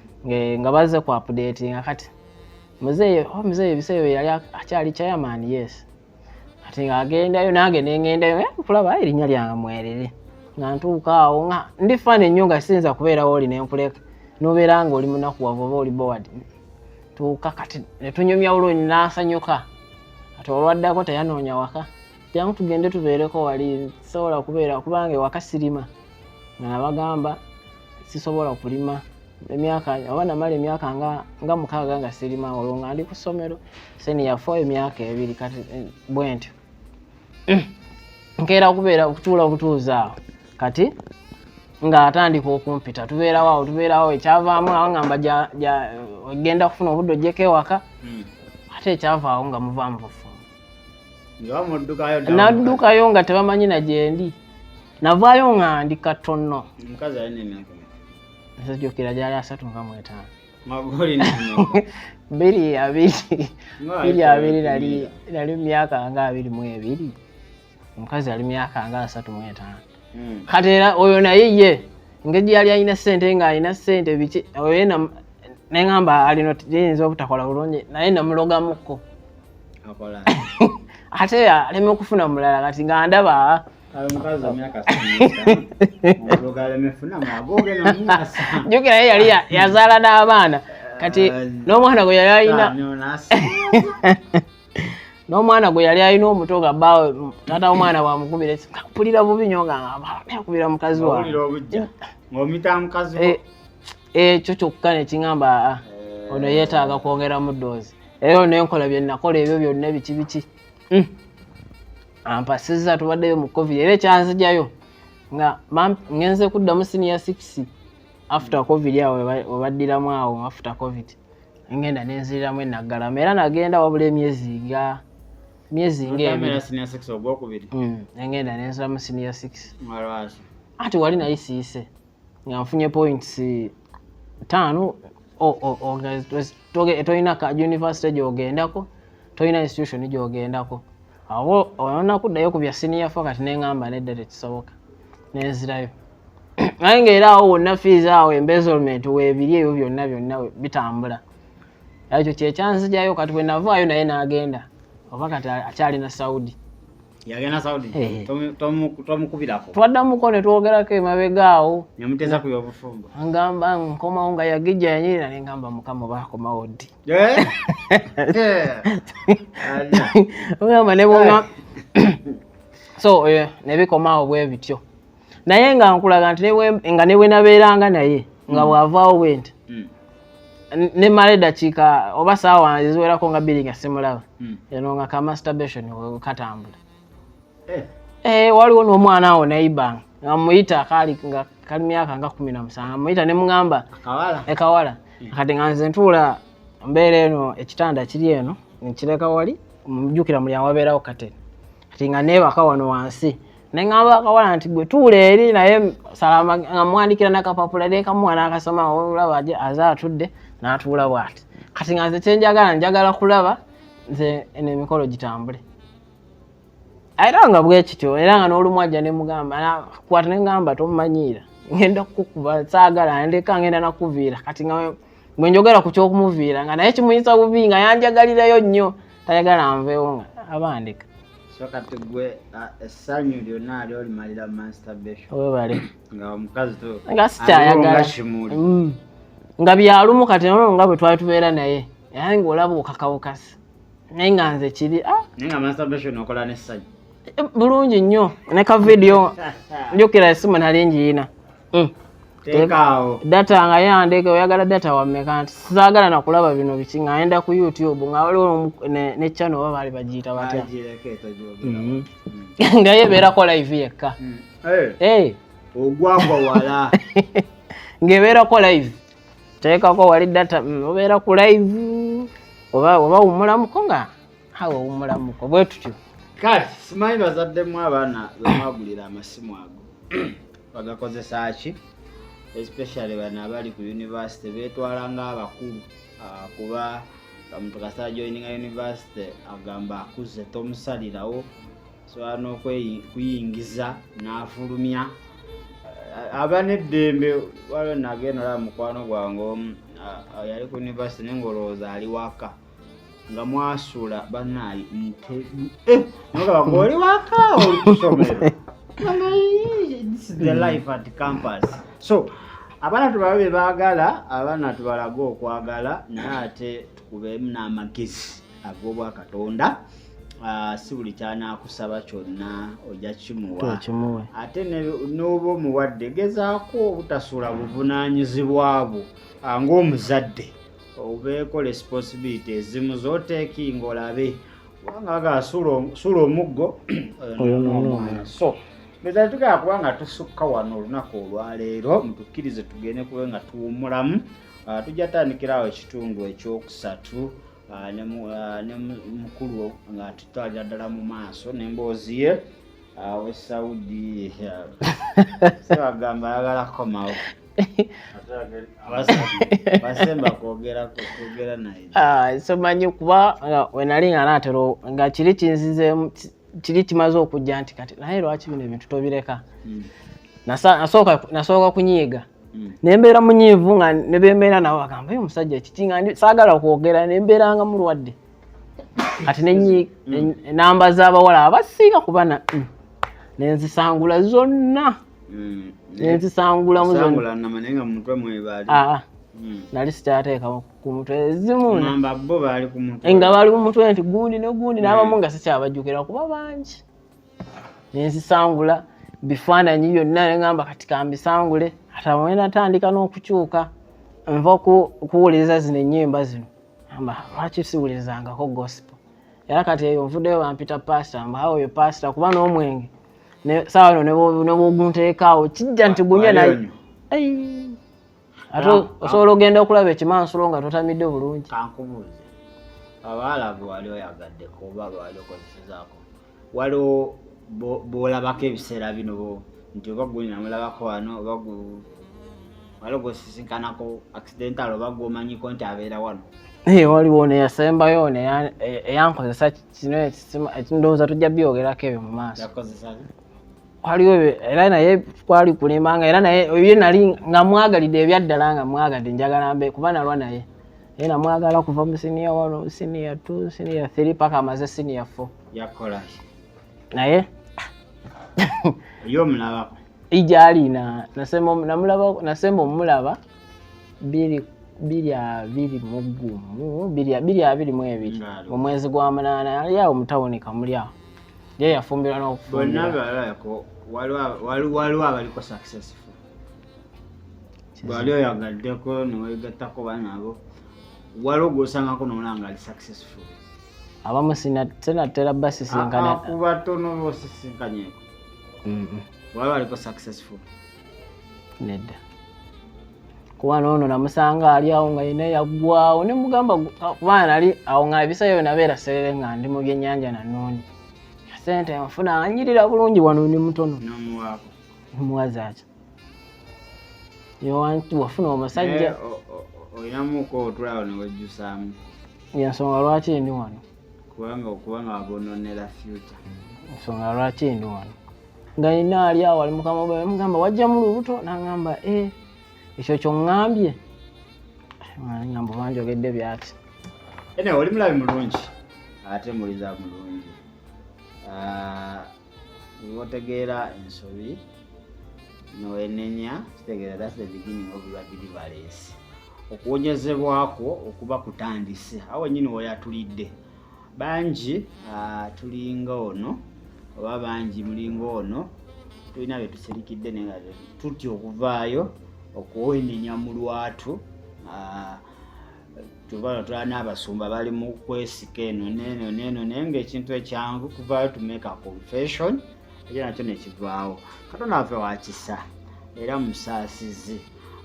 Speaker 2: nga baze kwapudetinga kati muzeeyi oh, muzeeyi ebiseera bye yali akyali chairman yes kati nga agendayo nange nengendayo eh, nkulaba erinnya lyange mwerere nga ntuuka awo nga ndi fani nnyo nga siyinza kubeerawo oli nenkuleka nobeera nga oli munaku wava oba oli bowad tuuka kati netunyumya olwonyi nansanyuka ate olwaddako teyanoonya waka jangu tugende tubeereko wali sisobola kubeera kubanga ewaka sirima nga nabagamba sisobola kulima emyaka oba namala emyaka nga nga mukaaga nga sirima olwo nga ndi ku ssomero seniya fo emyaka ebiri kati eh, bwentyo mm. nkeera kubeera okutuula obutuuza awo kati ng'atandika okumpita tubeerawo awo tubeerawo ekyavaamu awo ngamba ogenda kufuna obudde ojjeko ewaka hmm. ate ekyavaawo nga muvaamu bufumbo naddukayo nga tebamanyi na gyendi navaayo nga ndi katonno nze jokera gyali asatu nga mwetaano magoli biri abiri biri abiri nali nali myaka nga abiri mu ebiri omukazi ali myaka nga asatu mu etaano hmm. kati era oyo naye ye engeri yali alina sente nga alina sente biki oyo yena neŋamba alino yinza obutakola bulungi naye namulogamukko ate aleme okufuna mulala kati nga ndaba jukira ye yali yazaala n'abaana kati n'omwana gwe yali alina n'omwana gwe yali alina omuto nga baawe taata w'omwana bwamukubira esika mpulira bubi nyo nga akubira mukazi wawe eh, ekyo kyokka nekiŋamba aa ah, ah, ono yeetaaga kwongeramu doozi era ono enkola bye nakola ebyo byonna biki biki hmm. ampasiza tubaddeyo mu covid era ekyanzijayo nga ngenze kuddamu siniya six after covid awo webaddiramu awo after covid ngenda nenziriramu enaggalama era nagenda wabula emyezi nga myezi ngaengenda mm, nenziramu siniya six ati wali naye siise nga nfunye points taano tolina ka university gyogendako tolina institution gyogendako awo onakuddayo ku bya siniya fo kati neŋamba nedda tekisoboka nenzirayo naye nga era awo wonna fees awo embezzlement webiri ebyo byonna byonna bitambula ekyo kyekyanzijayo kati bwenavaayo naye nagenda oba kati akyali na saudi yagenda
Speaker 1: saudi eh. tomukubirako twaddamuko ne
Speaker 2: twogerako emabega awo nemuteesa ku byobufumbo
Speaker 1: ngamba nkomawo
Speaker 2: nga yagijja yanyirira ne ngamba mukama oba akomawo ddi eh? ogamba nebonga so eh, nebikomawo bwe bityo naye nga nkulaga nti nga newenabeeranga naye nga mm. bwavaawo bwenti ne mala eddakiika oba saawa eziwerako nga bbiri nga simulaba hmm. eno nga ka masturbation katambula eh. Eh, waliwo n'omwana awo naiba nga muyita kaali nga kali myaka nga kumi na musanvu muyita ne mugamba ekawala hmm. kati nga nze ntuula mbeera eno ekitanda kiri eno nkireka wali mujukira mulyango wabeerawo kateni kati nga neebaka wano wansi neŋamba akawala nti gwe tuula eri naye salama nga muwandikira nakapapula nekamuwa nakasoma olaba aze atudde natuula bwati kati nga nze kyenjagala njagala kulaba nze eno emikolo gitambule era nga bwekityo era nga n'olumu ajja nemugamba kwata nengamba tomumanyiira ngenda kukuba saagala ndeka ngenda nakuviira kati nga gwe njogera ku kyokumuviira nga naye kimuyisa bubi nga yanjagalirayo nnyo tayagala nveewo nga abandika so kati
Speaker 1: gwe essanyu lyonna ali olimalira masturbation webale nga
Speaker 2: omukazi to
Speaker 1: nga sikyayagala
Speaker 2: kimuli mm. nga byalumu kati noo nga bwe twali tubeera naye era nga olaba okakawukasi naye nga nze kiri ah. naye nga masturbation
Speaker 1: okola n'essanyu eh, bulungi
Speaker 2: nnyo ne ka vidiyo njukira esimu nali njiyina
Speaker 1: mm. data nga
Speaker 2: yandeke oyagala data wameka nti saagala nakulaba bino biki nga ayenda ku youtube nga waliwo ne channel oba baali bagiyita batya mm-hmm. mm. nga yebeerako live yekka mm. eh. Eh. ogwagwa
Speaker 1: wala
Speaker 2: ng'ebeerako live teekako wali data mm, obeera ku live oba oba wumulamuko nga awe wumulamuko bwe tutyo kale simanyi
Speaker 1: bazaddemu abaana bemwagulira amasimu ago bagakozesa ki especially bano abali ku university betwala nga abakulu ah, kuba omuntu kasita joininga university agamba akuze tomusalirawo sobola n'okuyingiza n'afulumya eh, aba n'eddembe waliwo nagenda olaba mukwano gwange omu ah, yali ku university naye ngaolowooza ali waka nga mwasula banaye ntegu eh, oli wakaawo olusomero the life at campus so abaana tubaba be baagala abaana tubalaga okwagala naye ate tukubeemu n'amagezi ag'obwakatonda Ah, si buli kyanakusaba kyonna ojja kimuwa ate n'oba omuwadde gezaako obutasula buvunanyizibwa bwo ah, ng'omuzadde obeeko responsibility ezimu zoteekinga olabe kubanga aga sula omuggo omwana so meza tugala kuba nga tusukka wano olunaku olwaleero mutukkirize tugende kube nga tuwumulamu ah, tujja tandikirawo ekitundu ekyokusatu ah, ah, ne mukulu nga tutwalira ddala mu maaso nemboozi ye awe saudi sebagamba ayagala komawo somanyi ah, kuba
Speaker 2: wenali nga natero nga kiri kinzizemu kiri kimaze okujja nti kati naye lwaki bino ebintu tobireka hmm. nasooka kunyiiga hmm. nembeera munyiivu nga nebembeera nabo bagamba yo omusajja kiki nga saagala kwogera nembeera nga mulwadde kati hmm. enamba z'abawala abasinga kuba nenzisangula zonna mm, nenzisangulamu ah,
Speaker 1: mm. nali
Speaker 2: sikyateekamu ku mutwe ezimu
Speaker 1: nga bali ku mutwe nti
Speaker 2: gundi ne gundi mm. n'abamu nga sikyabajjukira kuba bangi nenzisangula bifaananyi byonna nengamba kati kambisangule atamwe natandika n'okukyuka nva kuwuliriza zino ennyimba zino amba lwaki siwulirizangako gospel era kati eyo nvuddeyo bampita pasita mbu awo oyo pasita kuba n'omwenge saawa eno nebwogunteekaawo kijja nti gunywe naye ate osobola ogenda okulaba ekimansulo nga totamidde bulungi kankubuuze
Speaker 1: abaalabu wali oyagadde kuba wali okozesezaako waliwo bwolabako ebiseera bino bo nti oba gwe namulabako wano oba gwe wali gwosisinkanako accidental oba gwomanyiko nti abeera wano naye waliwo
Speaker 2: neyasembayo eyankozesa kino ekindowooza tujja byogerako ebyo mu maaso waliwo era naye kwali kulimba nga era naye ye nali nga mwagalidde ebyaddala nga mwagadde njagala mbe kuba nalwa naye ye namwagala kuva mu siniya one siniya two siniya three paka amaze siniya four yakolaki naye
Speaker 1: yomulabako ijali na
Speaker 2: nasema namulaba nasema omulaba biri biri abiri mu gumu biri biri abiri mu ebiri mu mwezi gwa munana yali awo mutawuni kamuli awo ye yafumbirwa n'okufumbira bonna balabako
Speaker 1: waliwo abaliko successful bwali oyagaddeko newegattako banaabo waliwo gwosangako nomulaba nga ali successful abamu
Speaker 2: sinatera basisinkana ah, ah, ku batono
Speaker 1: bosisinkanyeko waba aliko successful
Speaker 2: nedda kuba noono namusanga ali awo nga yina yaggwawo ne mugamba ah, kuba nali awo nga ebisayo nabeera serere nga ndi mu byennyanja nanoonyi sente nfuna anyirira bulungi wano ndi mutono
Speaker 1: muwazaki
Speaker 2: yowantu wafuna omusajja eh, olinamuko
Speaker 1: otulawo newejjusaamu yensonga
Speaker 2: lwaki ndi wano kubanga okubanga
Speaker 1: wabononera future ensonga lwaki
Speaker 2: ndi wano nga yina ali awo ali mukama bwe mugamba wajjamu lubuto nangamba e eh, ekyo kyoŋŋambye ngamba banjogedde byaki ene oli
Speaker 1: mulabi mulungi ate muliza mulungi ah, wotegeera ensobi nowenenya kitegeera that's the beginning of your deliverance okuwonyezebwakwo okuba kutandise awo wenyini woyatulidde bangi ah, tulinga ono oba bangi mulinga ono tulina betusirikidde naye nga tutya okuvaayo okuwenenya mu lwatu ah, tubala tula n'abasumba bali mu kwesika eno neeno neeno naye ngaekintu ekyangu kuvayo to make a confession ekyo nakyo nekivaawo katonda waffe wakisa era musaasizi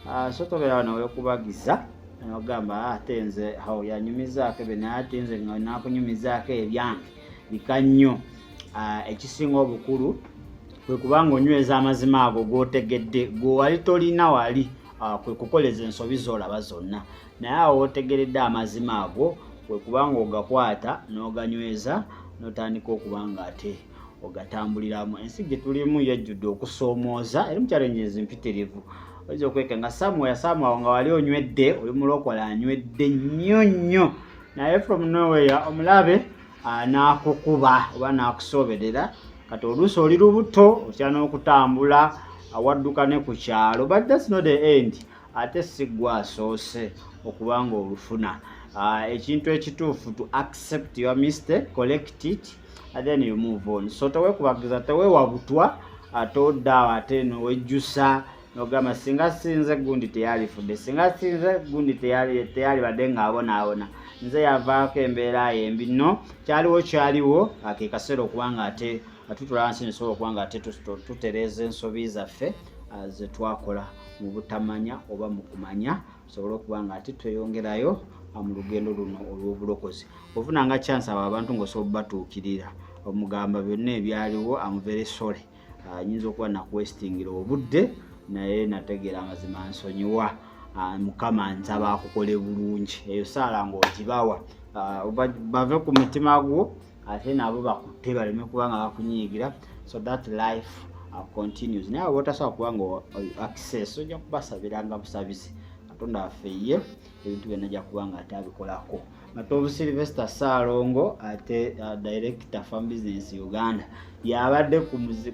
Speaker 1: ah, so tobeerawo newekubagiza nogamba ah, ate nze awo yanyumizaako ebyo naye ate nze nga nakunyumizaako ebyange bika nnyo ah, ekisinga obukulu kwe kubanga onyweza amazima ago gotegedde gwewali tolina wali kwe kukoleza ensobi zolaba zonna naye awo wotegeredde amazima ago kwe kuba nga ogakwata n'oganyweza n'otandika okuba nga ate ogatambuliramu ensi gye tulimu yajjudde okusoomooza eri mukyalengezi mpitirivu oyinza okweka nga samuel samuel nga wali onywedde oli mulokola anywedde nnyo nnyo naye from nowhere omulabe anaakukuba oba naakusooberera kati oluusi oli lubuto otya n'okutambula awadduka ne ku kyalo but thats not the end ate si gwe asoose okuba nga olufuna ah, ekintu ekituufu to accept your mistake collect it and then you move on so tewekubagiza tewewa butwa ate oddaawo ate nowejjusa nogamba singa sinze gundi teyalifudde singa sinze gundi teyalibadde ngaabonaabona nze yavaako embeera yembi no kyaliwo kyaliwo akekasera okuba nga ate nga tutula wansi nesobola okuba nga ate tutereeza ensobi zaffe ah, ze twakola mu butamanya oba mu kumanya tusobole okuba nga ate tweyongerayo ah, mu lugendo luno olw'obulokozi ofuna nga chance abo abantu ngaosobola obubatuukirira omugamba byonna ebyaliwo amuvere sole ayinza ah, okuba nakuwesitingira obudde naye nategeera amazima nsonyiwa Ah, mukama nsaba akukole bulungi eyo saala ngaogibawa ah, bave ku mutima gwo ate nabo bakutte baleme kuba nga bakunyiigira so that life uh, continues naye aba otasobola kuba nga access ojja kubasabiranga busabisi katonda waffe ye ebintu byonna ajja kuba nga ate abikolako matovu silvester saalongo ate uh, director farm business uganda yabadde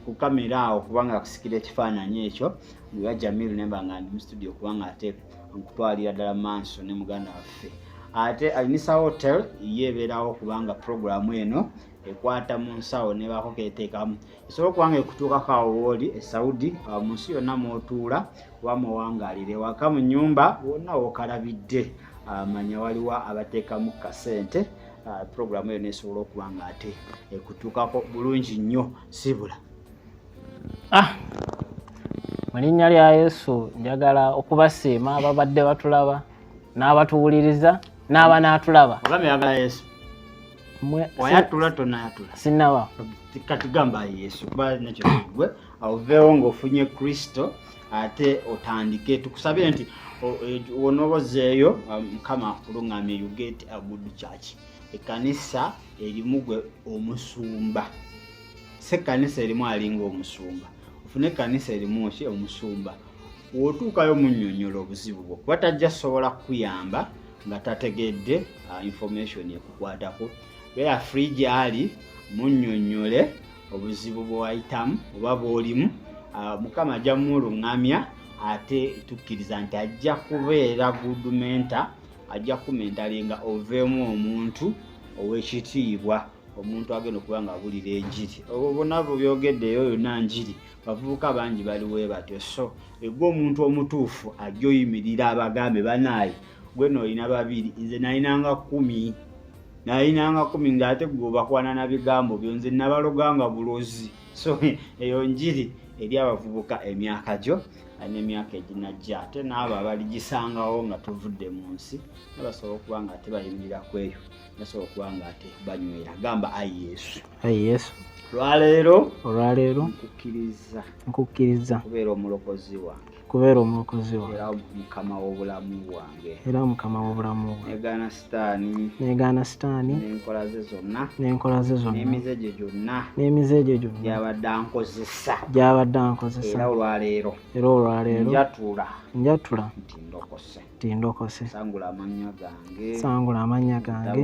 Speaker 1: ku kamera awo kubanga akusikira ekifaananyi ekyo nga jamil nemba nga ndi mu studio kubanga ateeka okutwalira ddala manso ne muganda waffe ate alinisa hotel ye ebeerawo kubanga puroguramu eno ekwata mu nsawo nebaako keteekamu esobola okubanga ekutuukako awo wooli e saudi awo mu nsi yonna mwotuula oba muwangaalire waka mu nyumba wonna wokalabidde ah, manya waliwo abateekamu kasente ah, puroguramu eyo nesobola okuba nga ate ekutuukako bulungi nnyo sibula ah
Speaker 2: mu linnya lya yesu njagala okubasiima ababadde batulaba n'abatuwuliriza n'aba n'atulaba
Speaker 1: sinaba
Speaker 2: katigamba
Speaker 1: yesu kuba nekyo kigwe oveewo ng'ofunye kristo ate otandike tukusabire nti wonooba ozzeeyo um, mukama akulungamye you get a good church ekanisa erimu gwe omusumba si ekkanisa erimu alinga omusumba ofuna ekkanisa erimu ki omusumba wotuukayo munyonyola obuzibu bwo kuba tajja sobola kukuyamba nga tategedde uh, information ekukwatako beera free gyali munyonyole obuzibu bwewayitamu oba bwolimu uh, mukama ajja mumulungamya ate tukkiriza nti ajja kubeera good mentor ajja kukumentalinga oveemu omuntu owekitiibwa omuntu agenda okuba nga abulira enjiri obwo bona bwe byogedde eyo yonna njiri bavubuka bangi bali we batyo so egwe omuntu omutuufu ajja oyimirira abagambe banaaye gwe noolina babiri nze nalinanga kumi nalinanga kumi ngaate gwe obakwana na bigambo byo nze nabaloganga bulozi so eyo njiri eri abavubuka emyaka gyo n'emyaka eginajja ate n'abo abaligisangawo nga tuvudde mu nsi nabasobola okuba nga tebayimirira kweyo nasobola okuba nga ate banywera gamba ayi yesu ayi yesu olwaleero olwaleero nkukkiriza nkukkiriza kubeera omulokozi wange kubeera omulokozi wange era mukama w'obulamu bwange era mukama w'obulamu bwange negaana sitaani negaana sitaani n'enkola ze zonna n'enkola ze zonna n'emize gye gyonna n'emize gye gyonna gyabadde ankozesa gyabadde ankozesa era olwaleero era olwaleero njatula njatula nti ndokose tindokose sangula amannya gange sangula amannya gange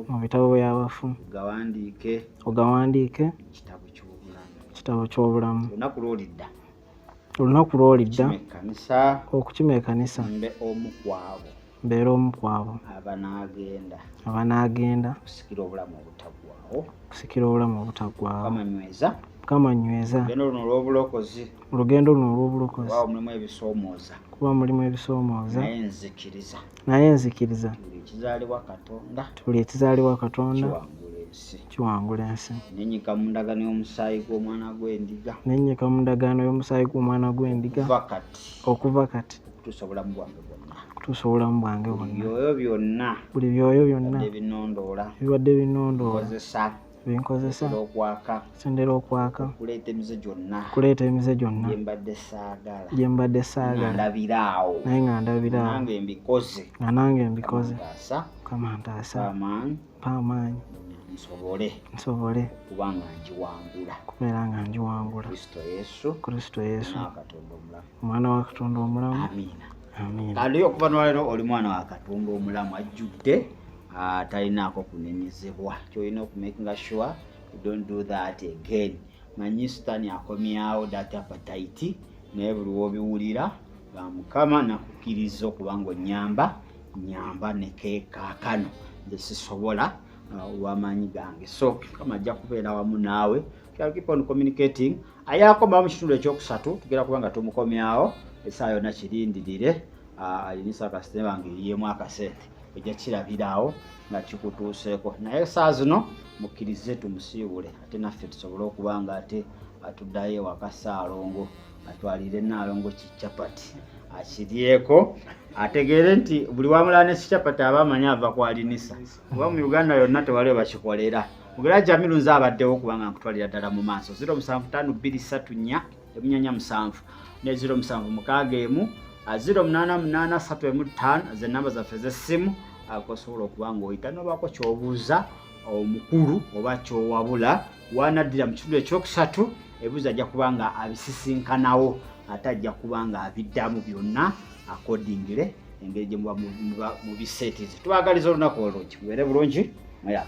Speaker 1: mu bitabo by'abafu ogawandiike ogawandiike kitabo ky'obulamu kitabo ky'obulamu olunaku lw'olidda olunaku lw'olidda okukima ekanisa mbe omu kwabo mbeera omu kwabo abanaagenda abanaagenda kusikira obulamu obutaggwawo kusikira obulamu obutaggwawo mukama nyweza mukama nyweza luno olw'obulokozi olugendo luno olw'obulokozi mulimu ebisoomooza kuba mulimu ebisoomooza naye nzikiriza naye nzikiriza tuli ekizaalibwa katonda tuli ekizaalibwa katonda kiwangula ensi nenyika mu ndagaano y'omusaayi gw'omwana gw'endiga nenyika mu ndagaano y'omusaayi gw'omwana gw'endiga okuva kati tusobola mu bwange bwonna kutuusa obulamu bwange bwonna buli byoyo byonna ebibadde binondoola binkozesa sendera okwaka kuleeta emize gyonna gye mbadde saagala naye nga ndabiraawo nga nange mbikoze mukama ntaasa mpa amaanyi nsobole nsobole kuba nga ngiwangula kubeera nga ngiwangula kristo yesu kristo yesu omwana wa katonda omulamu amiina amiina kandi okuva nolero oli mwana wa katonda omulamu ajjudde ah, talinaako kunenyezebwa kyolina okumakinga sure you don't do that again manyi sitani akomyawo data patayiti naye buli wobiwulira nga mukama nakukkiriza okuba nga onyamba nyamba nekekakano nze sisobola uh, wamaanyi gange so mukama ajja kubeera wamu naawe keep on communicating ayakomawo mu kitundu ekyokusatu tugera kuba nga tumukomyawo esaa yona kirindirire uh, alinisa kasitema nga eriemu akasente ojja kirabiraawo nga kikutuuseeko naye saa zino mukkirize tumusiibule ate naffe tusobole okuba nga ate atuddayo ewaka saalongo atwalire naalongo kichapati akiryeko ategeere nti buli wamulaa ne kichapati aba amanyi ava kwalinisa kuba mu uganda yonna tewali webakikolera mugera jamiru nze abaddewo kubanga nkutwalira ddala mu maaso 0 7 5 2 3 4 emunyanya musanvu ne ziro musanvu mukaaga emu ziro munaana munaana satu emu ttaano ze namba zaffe ez'essimu kosobola okuba ng'oyita nobaako kyobuuza omukulu oba kyowabula wanaddira mu kitundu ekyokusatu ebuuza ajja kuba nga abisisinkanawo ate ajja kuba nga abiddamu byonna akodingire engeri gye muba mu biseetizi tubagaliza olunaku olungi mubeere bulungi muyaa